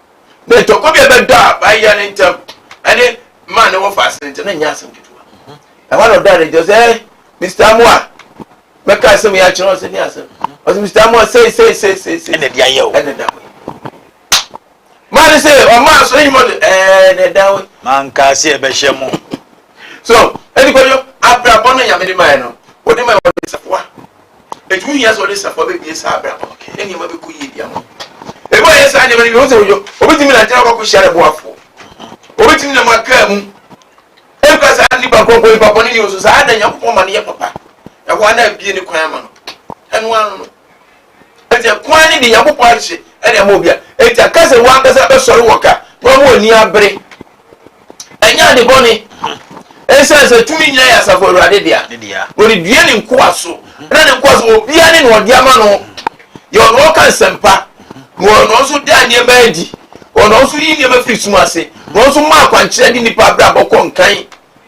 na ntɔkwa bi a ɛbɛdɔ a baayɛ no ntam ne maa ne wɔfa ase no ntam na nyɛ asɛm ketewa ɛhɔ na ɔdaa ne ntam sɛ eh, mr amoa mɛka asɛm yi akyerɛ ɔsɛ ne asɛm ɔsɛ mr amoa sei sei sei sei sei ɛna ɛde ayɛ o ɛna ɛda hɔ maa ne sɛ ɔma aso ne nyuma do ɛɛ na ɛda hɔ maa nkaa sɛ ɛbɛhyɛ mo so ɛdi kɔdwo abrabɔ no nyame de maa no wode ma wɔde safoa Enti ho hia sɛ ɔne Safoa bebue saa abrabɔ no, na nneɛma bɛkɔ yie de ama no. Ɛbɛ ɔyɛ saa nneɛma no bi, ɔhu sɛ ɔyɔ, ɔbɛtumi nante na ɔkɔkɔ hyia ne boafoɔ. Ɔbɛtumi nam akaa mu. Ɛnka saa nipa kɔnkɔn, nipa bɔne ni nso, saa na Nyankopɔn ma no yɛ papa. Ɛhɔ ara na abie ne kwan ama no. Ɛno ara no. Enti ɛkwan ne de Nyankopɔn ahye ɛde ama obi a, enti aka sɛ wɔn ankasa bɛsɔre wɔ ka na wɔn ani abere Ɛnyɛ ade bɔne, esiane sɛ tumi nyinaa yɛ asafo Awurade dea. Ɔde dua ne nkoa so, na ne nkoa so obiara ne nea ɔde ama no. Yɛ ɔno ɔka nsɛmpa, na ɔyɛ ɔno nso da nneɛma adi. Ɔno nso yi nneɛma firi sum ase, na ɔno nso ma akwankyerɛ de nnipa abrabɔ kɔ nkan.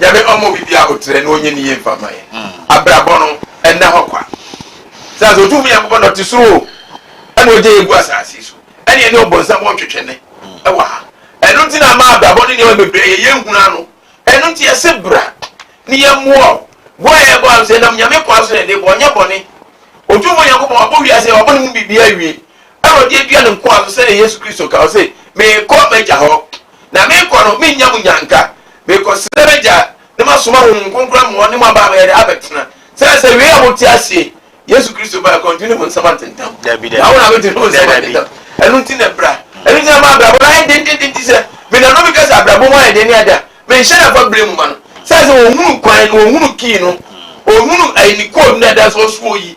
Nyame ɔmma obi biara aboterɛ na ɔnyɛ ne yie mfa mma yɛn. Abrabɔ no, ɛnna hɔ kwa. Sɛ sɛ Otumfoɔ Nyankopɔn na ɔte soro o, ɛna ɔgya yɛn gu asase so, ɛne yɛne ɔbonsam wɔ ntwetwene wɔ ha. Ɛno nti na ama abrabɔ ne nneɛma bebree yɛ yɛn hunu ano. Ɛno nti yɛse bra ne yɛmmoa wo. Boa a yɛbɔ ano sɛ ɛnam Nyame kwan so na yɛde bɔ, ɔnyɛ bɔne. Otumfoɔ Nyankopɔn, wabɔ wiase, wabɔ ne mu biribiara awie. na ɔde adua ne nkoa so sɛdeɛ Yesu Kristo ka, ɔse, Merekɔ m'Agya hɔ, na merekɔ no merennya mo nnyanka, merekɔsrɛ m'Agya na masoma Honhom Kronkron ama ɔne mo aba abɛyɛdɛ, abɛtena. Sɛɛ sɛ wei a mote aseɛ yi, Yesu Kristo ba, ɛkɔ nti ne mo nsɛm antentam, na wo na bɛte ne wo nsɛm antentam, ɛno nti na bra, ɛno nti na ma abrabɔ no ayɛ dendenden nti sɛ menanom bi ka sɛ abrabɔ mu ayɛ den ne ade a, menhyɛ da fa brɛ mu ma no, sɛɛ sɛ ɔhunu kwan no, ɔhunu key no, ɔhunu ɛyi ne code no a ɛda so ɔsoɔ yi,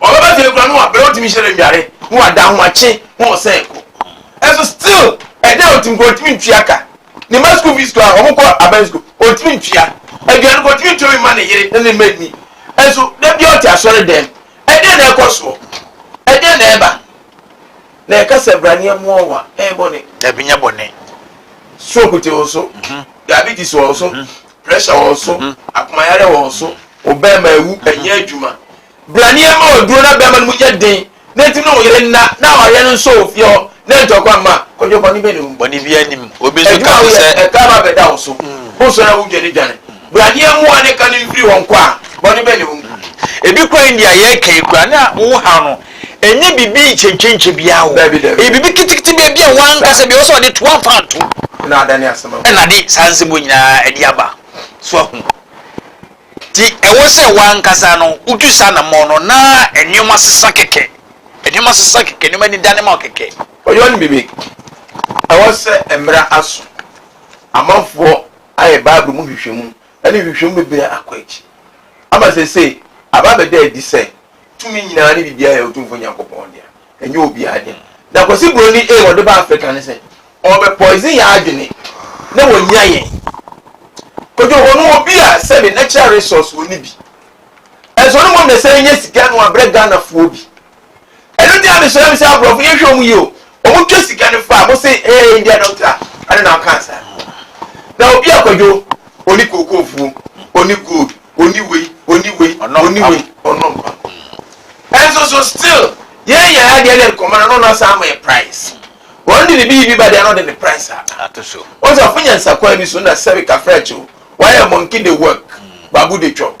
Ɔbɛba gyina kura no wa bere ɔtumi hyɛ no nnuare no wa da ahomakye ho ɔsɛn ko. Ɛso still ɛdɛ ɔtumi kɔ ɔtumi ntua ka. Ne mma school fees kura ɔmo kɔ aban school ɔtumi ntua. Aduane kɔ ɔtumi ntua mma ne yere ne ne mma nni. Ɛso da bia ɔte asɔre dɛm ɛdɛ na ɛkɔ soɔ? Ɛdɛ na ɛba? Na yɛka sɛ bra ne ɛmoa wo a ɛyɛ bɔne. Dabi nyɛ bɔne. Stroke te wo so, diabetes wɔ wo so, pressure wɔ wo so, akomayareɛ wɔ wo so, wo barima awu, ɛnyɛ adwuma. Bra ne yɛmma wo aduro na barima no mu nyɛ den na nti na wo yere nna na awareɛ no nsɔ wɔ fie hɔ na ntɔkwa mma. Kwadwo bɔne bɛn na ɛwɔ mu? Bɔne biara nni mu. Obi nso ka ho sɛ. Adwuma a woyɛ, ɛtaa ba bɛda wo so. Wosɔre a wodwanedwane. Bra ne yɛmmu wo ne ka no mfiri hɔ nkɔ a, bɔne bɛn na ɛwɔ mu? Ebi koraa nni a yɛreka yi koraa na wo haw no. Ɛnyɛ biribi kyenkyenkye biara o. Ɛyɛ biribi keteketebea bi a wanka sɛ deɛ ɔwɔ sɛ ɔde to amfa anto na de saa nsɛm wɔ nyinaa ɛde aba. So ahu? Nti ɛwɔ sɛ wankasa no wotu saa namɔn no na nneɛma sesa kɛkɛ. Nneɛma sesa kɛkɛ, nneɛma ani dane ma wo kɛkɛ. Ɔyɔ no bebe. Ɛwɔ sɛ mmara aso. Amanfoɔ ayɛ Bible mu nhwehwɛmu ne nhwehwɛmu bebree akɔ akyi ama seesei aba abɛda adi sɛ Tumi nyinaa ne biribiara yɛ Otumfoɔ Nyankopɔn dea, ɛnyɛ obiara dea. Na Kwasi Broni aim a ɔde ba Africa ne sɛ ɔrebɛ poison yɛn adwene na wɔanya yɛn. Kwadwohɔ no wɔ bi a sɛbe natural resource wɔ ne bi. Ɛnso ɔne mmom na ɛsane nya sika na wabrɛ Ghanafoɔ bi. Ɛno nti na mesrɛ me sɛ aborɔfo yɛnhwɛ wɔn yie o. Ɔmo twa sika no faa mo se ɛyɛ India doctor a ɛno na ɔkaa saa. Na obi a kwadwo ɔni kookoo fuo, ɔni gold, ɔni wei, ɔni wei, ɔni wei, ɔnom pam. Ɛnso so still yɛn yɛ adeɛ ne nkɔmɔ no na ɔno asan ama yɛ price. Wɔn de ne bi bi ba deɛ na ɔde ne price aba. Wɔn sɛ ɔfo nyansa kwan bi so na sɛbi kafra akyi o, wayɛ monkey de work, babu de chop.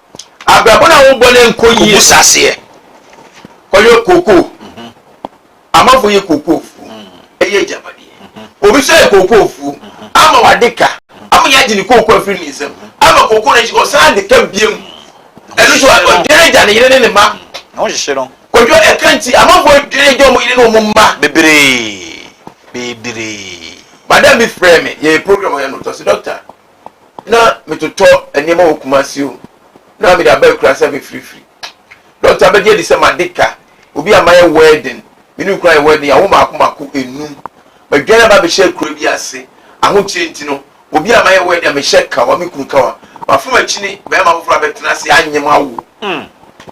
Abrabɔ no a wobɔ no ɛnkɔ yie. Obu saseɛ. Ɔyɛ kookoo. Amanfoɔ yɛ kookoo fuo. Ɛyɛ agyapadeɛ. Obi nso ayɛ kookoo fuo ama wade ka. Ama yɛagye ne kookoo afiri ne nsam. Ama kookoo no akyi no ɔsan de ka biam. Ɛno nso ɔdwene agya, ne yere ne ne mma. Na wɔhyehye no. Kwadwo ɛka nti amanfoɔ dwene agya wɔn yere ne wɔn mma. Bebree. Bebree. Madam bi frɛɛ me, yɛyɛ program wɔ Yɛn Ɔtɔ, ɔse, Doctor, na metotɔ nneɛma wɔ Kumasi o, na mede aba Akurasɛ fifirifiri. Dɔkta abɛgye adi sɛ made ka, obi a mayɛ wɛɛden, me ne no kura yɛ wɛɛden, yɛawo mmaako mmaako nnum. Madwane aba abɛhyɛ akuraa bi ase, ahokyere nti no, obi a mayɛ wɛɛden a mehyɛ kawa, me kunu kawa. Mafa m'akyi ne barima foforɔ abɛtena ase, anyem awo.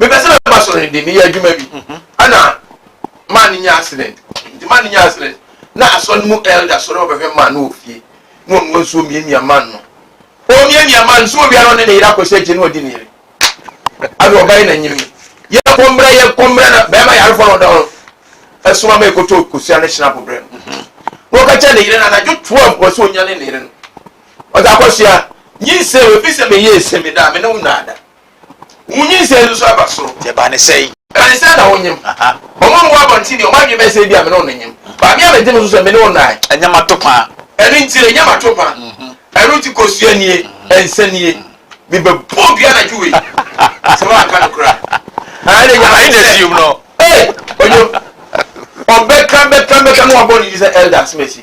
mepɛ sɛ mɛba soro no de meyɛ adwuma bi ɛna maa no nya accident nti maa no nya accident na asɔre no mu elder sɔre ɔbɛhwɛ maa no wɔ fie na ɔnoa nsuo mmiamia maa no ɔmiamia maa no nsuo wia na ɔne ne yere akɔhyɛ akyi na ɔdi ne yere ɛna ɔba yi na nyimi yɛ kɔmbrɛ yɛ kɔmbrɛ na bɛrima yarefoɔ na ɔda hɔ ɛso ama ɛkɔtɔ kosua ne hyena pobrɛ no na ɔka kyɛ ne yere no anadwo toa mu ɔsɛ ɔnya ne ne yere no ɔdze akɔsoa nyinsɛ obi sɛ meyɛ esemi da a me ne wo nnaada Wo nyinsɛn no nso aba soro. Deɛ ɛbaa no sɛn? Ɛbaa no sɛn na wonyem? Wɔn a wɔwɔ abɔnten deɛ, wɔn adwene bɛyɛ sɛ ebia me ne wɔn nyem. Maame a mɛgye no so sɛ me ne wo nnae. Ɛnyɛ m'atopã. Ɛno nti, ɛnyɛ m'atopã. Ɛno nti, kosua nie, nsa nie. Mebɛbɔ wo dua anadwo wei sɛ woanka nokorɛ a. Ɛnna Nyame sɛ, Ei! Ɔnye wo. Ɔbɛka, bɛka, bɛka na wabɔ ne din sɛ Elder Asmasi.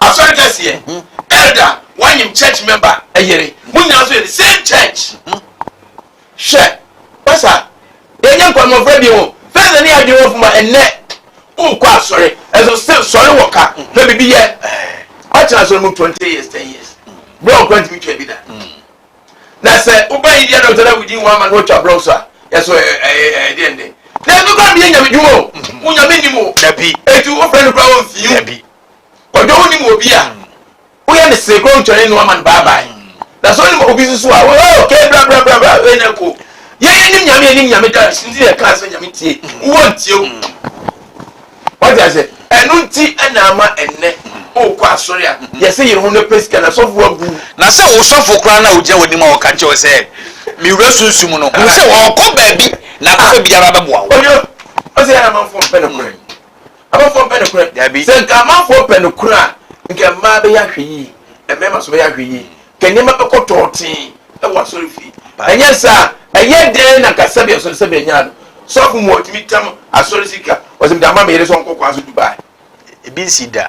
Asɔre kɛseɛ, elder, wanyem church member yere, mo nyinaa nso yɛ the same church. Hwɛ, Pastor, yɛnyɛ nkwa mmɔfra bio, first na ne yɛ adwene wɔ fam a, ɛnnɛ wokɔ asɔre, nso still sɔre wɔ ka, na biribi yɛ, watena asɔre mu twenty years, ten years, blɔk koraa ntumi twaa bi da. Na sɛ woba India doctor na within one month watwa blɔk so a, yɛso ɛyɛ deɛ nde. Na ɛno koraa meyɛ nyame dwuma o, wo nyame nim o, eti wofrɛ no koraa ɔmfii o. Ɔdɔ wonim wɔ obi a, woyɛ no see koraa wotwane no ama no bye bye. Na sɛ wonim obi nso a, wo oh okay bra bra bra bra wei na ɛkɔ. Yɛn yɛnim Nyame yɛnim Nyame dance nti na yɛkaa sɛ Nyame tie wo wɔntie wo. Wate aseɛ? Ɛno nti na ama ɛnnɛ wokɔ asɔre a yɛse yere ho na pɛ sika na sɔfo abu wo. Na sɛ wo sɔfo koraa no a ɔgyina w'anim a ɔka kyerɛ wo sɛ me wura sunsum no, hu sɛ ɔɔkɔ baabi na akɔfa biribi ara bɛboa wo. Ɔyɔ, ɔsɛ yɛn amanfoɔ mpɛ nokorɛ. Amanfoɔ mpɛ nokorɛ. Dabi. Sɛ nka amanfoɔ pɛ nokorɛ a, nka mmaa bɛyɛ ahwɛyie, mmarima nso bɛyɛ ahwɛyie, nka nneɛma bɛkɔ tɔɔtee wɔ asɔrefie. Ɛnyɛ saa? Ɛyɛ dɛn na nka sɛbea sɔre sɛbea nyaa no? Sɔfo mu a ɔtumi tam asɔre sika, ɔse mede ama me yere sɛ ɔnkɔ kwan so Dubai. Ebi nsi da.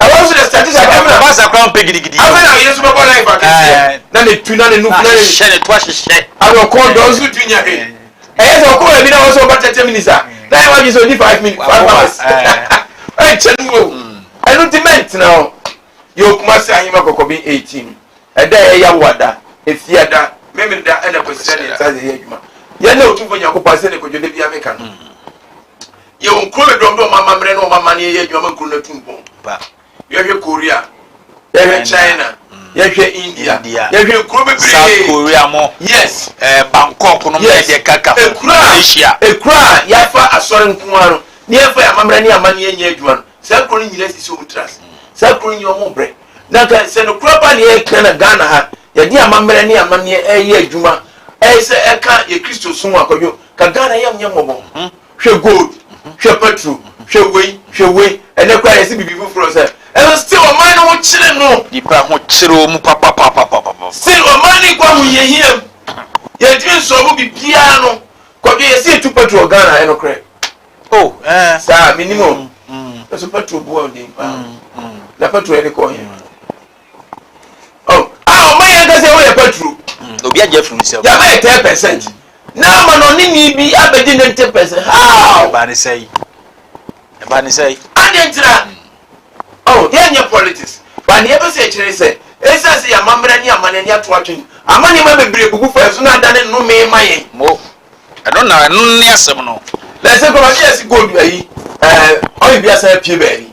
Ɛberɛ a baasa koraa ɔmpɛ gidigidi yi o. Ɛɛ ahyehyɛ ne to ahyehyɛ. Ɛɛ. yɛ wɔn kuro no dɔm dɛ wɔn amammerɛ ne wɔn amanneɛ yɛ adwuma ma kuro no atu mpɔn pa. Yɛhwɛ Korea, yɛhwɛ China, yɛhwɛ India, yɛhwɛ nkuro bebree. South Korea mo. Yes. Ɛɛ eh, Bangkok no yes. deɛ kaka ho. Ekura Asia. Ekura a yɛafa asɔre nko ara no ne yɛmfa yɛn amammerɛ ne amanneɛ nyɛ adwuma no saa kuro no nyinaa sisi wɔn tiri ase. Saa kuro no nyɛ wɔn brɛ. Na nka sɛ no kura ba ne yɛka na Ghana ha yɛde amammerɛ ne amanneɛ ɛyɛ adwuma ɛyɛ sɛ ɛka yɛ Kristo som akɔdwo ka Ghana yɛm nyɛ mmɔbɔ. Mm-hmm. hwɛ gold hwɛ petrol hwɛ wei hwɛ wei ɛnɛ koraa yɛsi bibi foforɔ sɛ ɛno still ɔman no ho kyere no Nipa ho kyere ɔmu papapapapapa. still ɔman no nkɔ ahohiahia mu yɛntumi nsɔlvo bibiaa no kwadwo yɛsi yɛtu petrol Ghana ɛnokorɛ Oh eh. saa menim o Mm mm. Nanso petrol boa ɔden paa o mm mm. na petrol yɛde kɔ ɔhen. Oh, a ɔma yɛn kasa ɛwɔ yɛ patro. Mm, obi agye afiri nsam. Yaba yɛ ten percent. Mm. Na ama na ɔne ni bi abɛgye ne ten percent. How? Ɛbaa ne sɛi. Ɛbaa ne sɛi. Adeɛ ntira. Mm. Oh, yɛn nyɛ politics. Ba ne yɛpɛ sɛ ɛkyerɛ sɛ ɛsɛ sɛ yɛama mmerɛ ne ama n'ani ato atwene. Ama nneɛma bebree bubu fa so na adane nnome ma yɛn. Mo, ɛno na ɛno ne asɛm no. Na ɛsɛ kɔba yɛ si gold ayi. Ɛɛ, ɔyɛ bi asan apue baabi.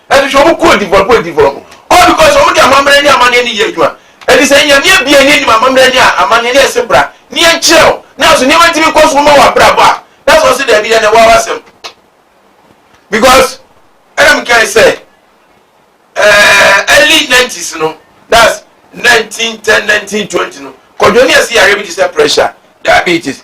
Ɛfiri sɛ wɔn kɔ odibɔ kɔ odibɔ all because wɔn de amammerɛ ne amanneɛ ne yɛ adwuma. Ɛfiri sɛ Nyame abue ne anim amammerɛ ne amanneɛ ne ɛse bra ne yɛn kyerɛ wo. Nanso nneɛma tumi kɔ so ma wɔ abrabɔ a na sɛ ɔse daabi dɛn na ɛwɔ w'asɛm. Because ɛna me kae sɛ ɛɛɛ early nineties no that's nineteen ten nineteen twenty no kwadwo ne ɛse yareɛ bi te sɛ pressure, diabetes,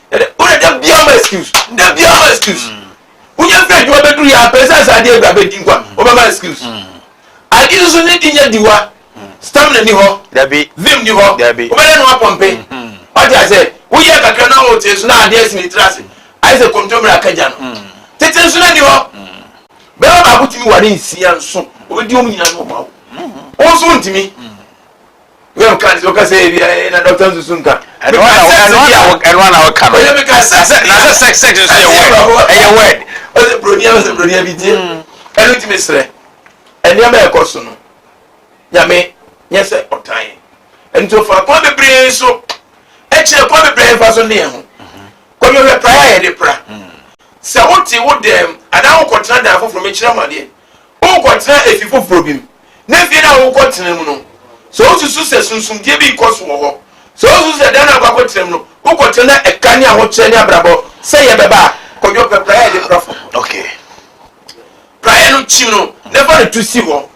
wode da biara ma excuse da biara ma excuse mm. wonya fɛ adwuma bɛduru yɛ apɛ sɛ saa adeɛ bra bɛdi nkwa mm. wobɛma excuse mm. ade no so ne di nyɛ diwa stamina ni hɔ vim ni hɔ wobɛdɛ no apɔmpe mm-hmm. wate asɛ woyɛ kakra na wote so na adeɛ sene tiri ase ayɛ sɛ kɔmtɔmmerɛ akagya no tete nso no ni hɔ bɛma baako tumi ware nsia nso wobɛdi ɔm nyina no ɔma wo wo nso wontumi wei ɔka ne sɛ ɔka sɛ ebi ayɛ na dɔkta nsusu nka. ɛno na ɛno na ɛno na ɔka no. ɔyɛ mi ka sex na na sɛ sex sex nso yɛ word ɛyɛ word. ɔsɛ broni ɛno sɛ broni ɛbi tie ɛno ti mi srɛ ɛnneɛma ɛkɔ so no nyame nyɛ sɛ ɔtan yɛ ɛno nti ɔfa kwan bebree so ɛkyerɛ kwan bebree nfa so ne yɛn ho kɔmi ɔhwɛ pra yɛ yɛde pra sɛ wote wo dɛm anaa wokɔtena dan foforɔ mekyerɛ ho adeɛ wokɔtena efi foforɔ bi mu ne fie no a wokɔtena mu no, sɛ wosusu sɛ sunsumdie bi rekɔ so wɔ hɔ, sɛ wosusu sɛ dan no a wokɔ akɔtena mu no, wokɔtena na ɛka ne ahokyerɛ ne abrabɔ sɛeɛ bɛba a, kɔdwo pɛ praeɛ a yɛde pra fam. Okay. Praeɛ no kyim no na fa no to si hɔ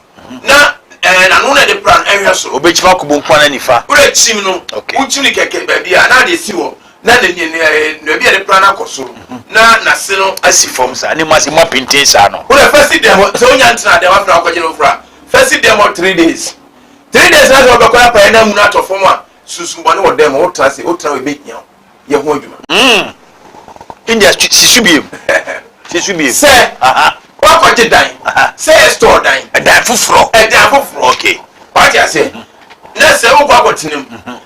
na ɛɛ n'ano na ɛde pra no ɛhwɛ soro. Obekyim akɔbɔ nkuan na nifa. Wura kyim no. Okay. Wokyim no kɛkɛ baabi a na ade si hɔ na ne ne ne eh, baabi a ne pra no akɔ so na n'ase no asi fam saa ne mu ase mu apintin saa no. wona fɛsi dɛm hɔ sɛ wonya ntena dɛm afei na wakɔgye no mfra fɛsi dɛm hɔ three days three days na sɛ wɔbɛkɔ na pae na mu no atɔ fam a sunsum bɔne wɔ dɛm hɔ wotena se wotena hɔ ɛbɛhia wo yɛ ho adwuma Mm. India stu- si so biem. Si so biem. sɛ Aha. woakɔgye dan Aha. sɛ yɛ store dan Ɛdan foforɔ. ɛdan foforɔ Okay. wate aseɛ na sɛ wokɔ akɔtenam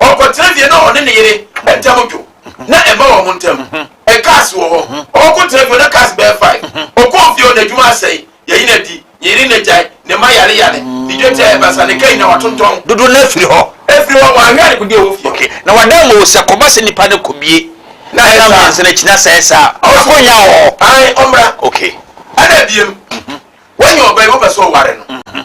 Ɔkɔtena fie na ɔne ne yere ntam dwo na ɛmma wɔn ntam. Cars wɔ hɔ. Ɔkɔ tena fie na cars bɛyɛ five. Ɔkɔɔ fie o n'adwuma asɛe, yɛyi no adi, ne yere na gyae, ne mma yare yare, ne dwatia yɛ basa, ne car nyinaa watontɔn. Dodoɔ no ara firi hɔ. Ɛfiri hɔ, wɔanhwɛ adekodeɛ a ɛwɔ fie hɔ. Okay, na wɔada ama wo sɛ kɔba sɛ nipa no kɔbie na ɛyɛ saa. Ɛnam mmiɛnsa no akyi na sɛ ɛyɛ saa a, ɔsɛ sɛ ɔnya hɔ. Ae, ɔmmra. Okay. Ɛna biom, woanya ɔba yi, wopɛ sɛ ɔware no.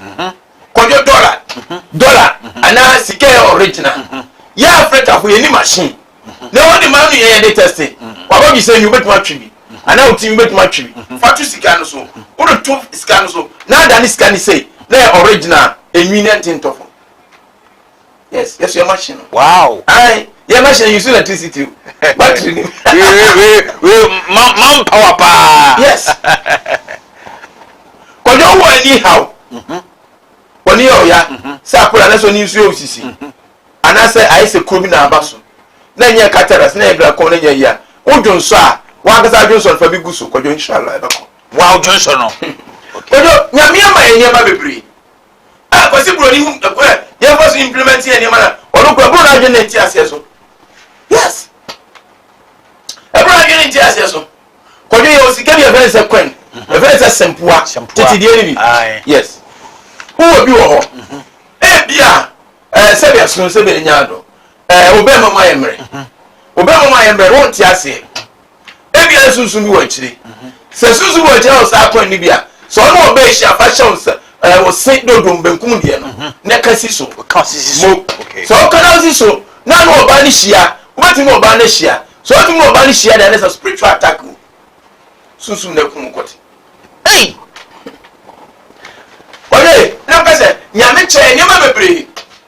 mhm. kɔdwo dɔla mhm. dɔla mhm. anaa sika yɛ ɔregyina mhm. yɛ afrikafo yɛni machine mhm. na wɔde ma no yɛ yɛde tɛste mhm. waba bi sɛ nwi wobɛtumi atwe bi mhm. anaa wotumi wobɛtumi atwe bi mhm. fa to sika no so wode to sika no so na ada ne sika ne sei na yɛ ɔregyina enwi ne ntentɔfo yes yɛso yɛ machine no. wow. ayi yɛ machine yusu electricity o battery ni. wee wee wee man man power paa. yes kɔjɔ wɔ ɛni ha o wɔni yɛ ɔya sɛ akora ne so ni nsu yɛ osisi anaasɛ ayɛ sɛ kuro bi na aba so na nyɛ kataras na nyɛ drakɔn na nyɛ yia o dwo nsɔ a wɔn ankasa adwo nsɔ no fa bi gu so kɔjɔ inshallah ɛbɛkɔ. wow dwo nsɔ no. kɔjɔ nyamea ma yɛ nneɛma bebree. a Kwasi Broni hu kwan a yɛmfa so implement yɛ nneɛma no a, ɔno kura ɛboro n'adwene ne nteaseɛ so. Yes. Ɛboro n'adwene ne nteaseɛ so. Kɔdwe yɛ osika bi a ɛfɛ sɛ kwan, ɛfɛ sɛ sɛmpoa, tete deɛ no bi. Yes. Wowɔ bi wɔ hɔ. Mhm. Ebi a, ɛɛ sɛbi ɛsono sɛbi ɛnya adɔ. Ɛɛ obɛma mu ayɛ mmerɛ. Obɛma mu ayɛ mmerɛ, wonte aseɛ. Ebia na Sunsum bi wɔ nkyene. Sɛ Sunsum bi wɔ nkyene na ɔsan kɔ ne bi a, sɛ ɔne ɔba ahyia, fa hyɛ wo nsa, ɛɛ, wo se dodom, benkum deɛ no, na ka si so. Ka ɔse si so. Mo. Okay. Sɛ woka na wosi so, na ne ɔbaa no hyia, wobɛtumi ne ɔbaa no ahyia. Sɛ wotumi ne ɔbaa no hyia deɛ, na sɛ spiritual attack o, Sunsum na akum kɔte. Ei! Wɔde, na mpɛ sɛ, Nyame kyɛɛ nneɛma bebree.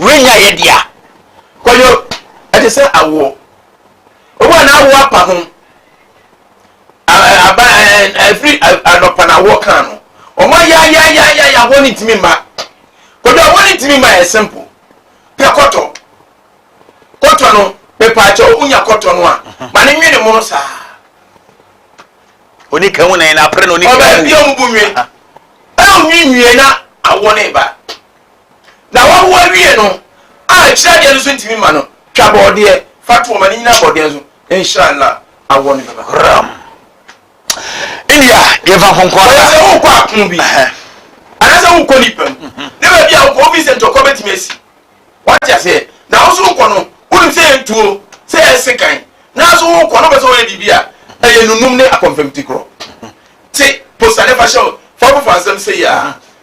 Worennya yɛde a. Kwadwo, ɛte sɛ awoɔ. Obi a n'awoɔ apa ho, aba ɛfiri anɔpa na awoɔ kaa no. Wɔn ayayayayaya ahoɔ no ntumi mma. Kwadwo ahoɔ no ntumi mma yɛ simple. Pɛ kɔtɔ. Kɔtɔ no, mepaakyɛ wo nya kɔtɔ no a, mhm. ma ne nwene mono saa. Oni kan wunan na apere na oni kan wu. Ọbaa bi ọmụ bụ nwe. Ẹ onwi nwie na awọ na ịba. Na wɔwoɔ wie no a akyire adeɛ no so ntumi mma no, twa bɔɔdeɛ fa to wɔn ani nyina bɔɔdeɛ no so, nhyira na awoɔ no bɛba. Ram. India, yɛmfa nkonko ara. Sɛ sɛ wokɔ apono bi, anaasɛ wokɔ nnipa mu, ne baabi a wokɔ, wofii sɛ ntɔkwa bɛtumi asi. Wate aseɛ? Na wo nso wokɔ no, wonim sɛ ɛyɛ ntuo, sɛ ɛyɛ sekan, nanso wokɔ na wopɛ sɛ woyɛ biribi a, ɛyɛ nunum ne akɔmfamtikorɔ. Te, posa ne fa hyɛ wo, fa wo foforɔ asɛm sei ara,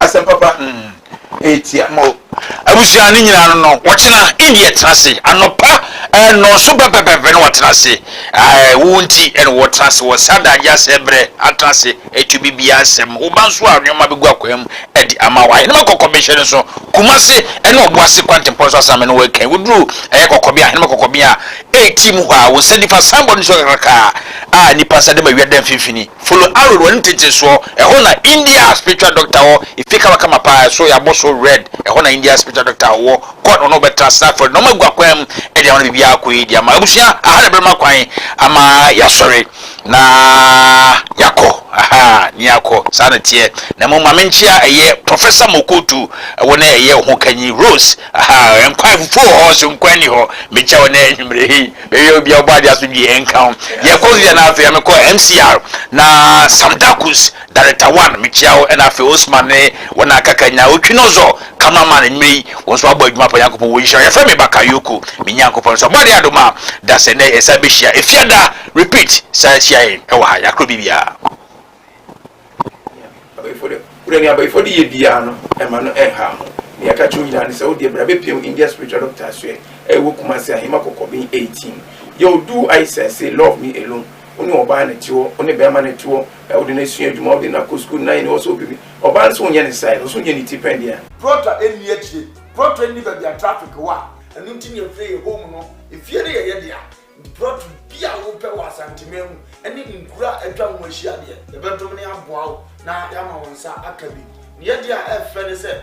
Asɛm papa hmm ɛtia mo. Abusua no nyinaa no no wɔtena India tena ase anɔpa eh, nnɔnso pɛpɛpɛpɛ na wɔatena ase eh, wo nti ɛna wɔtena ase wɔ saa da agya sɛ brɛ atena ase ɛtu bibia nsɛm wo ba nso a nneɛma bɛgu akwan mu ɛde ama wo ahenemɛ kɔkɔ bɛhyɛ no so Kumase ɛna ɔbo ase kwantempɔ nso asame no wɔɛkɛn woduru ɛyɛ kɔkɔbea ahenemɛ kɔkɔbea ɛti mu hɔ a wo nsa nifa sanbɔ no so kakrakaa a nipa nsa dɛm awia da mfimfini Folo Arul wɔ ne tete soɔ, ɛhɔ na India spiritual doctor wɔ, efie kamakama paa, ɛso yɛabɔ so red, ɛhɔ na India spiritual doctor wɔ, kɔ na ɔne wo bɛtra Snagford, nnoɔma agu akwan mu de ama no biribiara akɔ yie de ama, abusua aha na ɛbɛma kwan ama yɛasɔre na yɛakɔ, ahaa na yɛakɔ, saa na ɛteɛ, na mmom ma menkyea ɛyɛ Professor Mokotu, wo ne ɛyɛ wo hokanyi Rose, ahaa, nkwan afufuo wɔ hɔ, so nkwan nni hɔ, mekyea wo ɛnnɛ anwumerɛ yi. Meyɛ obi a Ɔbɔadeɛ asomdwie nka wo. Yɛkɔ Lira na afei mekɔ MCR na Sam Darkus, Director One, mekyia wo ɛna afei Osman ne wɔn a aka Kanya, Otwi no Ɔzɔ, Camera Man, nnwuma yi wɔn nso abɔ adwuma pa Nyankopɔn wɔ nhyira wo. Yɛfrɛ me Bakayoko, me Nyankopɔn nso Ɔbɔadeɛ adom a da sɛ nnɛ yɛsan bɛhyia Efiada, repeat, san hyia yɛn wɔ ha, yɛakorɔ biribiara. Berɛ nea abayifɔ de yɛ biara no, ɛma no ɛnha ho. Nea ɛka kyerɛ wo nyinaa ne sɛ, wodeɛ bra bɛpiem India Spiritual Doctor asoɛ a ɛwɔ Kumasi Ahema Kɔkɔben 18. Yow do I sɛ say love me alone, wo ne ɔbaa na ɛte hɔ, wo ne bɛɛma na ɛte hɔ, ɛɛ wode no asua adwuma, wode no akɔ sukuu, nine wɔ sɛ wopɛ bi, ɔbaa no sɛ wonyɛ ne size, ɔsɛ wonyɛ ne ti pɛn deɛ a. Prɔtɔ nni akyire, prɔtɔ nni baabi a traffic wɔ a, ɛno nti nea ɛfrɛ yɛ home no, efie no yɛ yɛ dea, Borɔto bi a wopɛ wɔ Asanteman mu ne nkuro a atwa ho ahyia deɛ, yɛbɛdome na yɛaboa wo na yɛama wo nsa aka bi. Ne yɛdeɛ a ɛyɛ fɛ ne sɛ,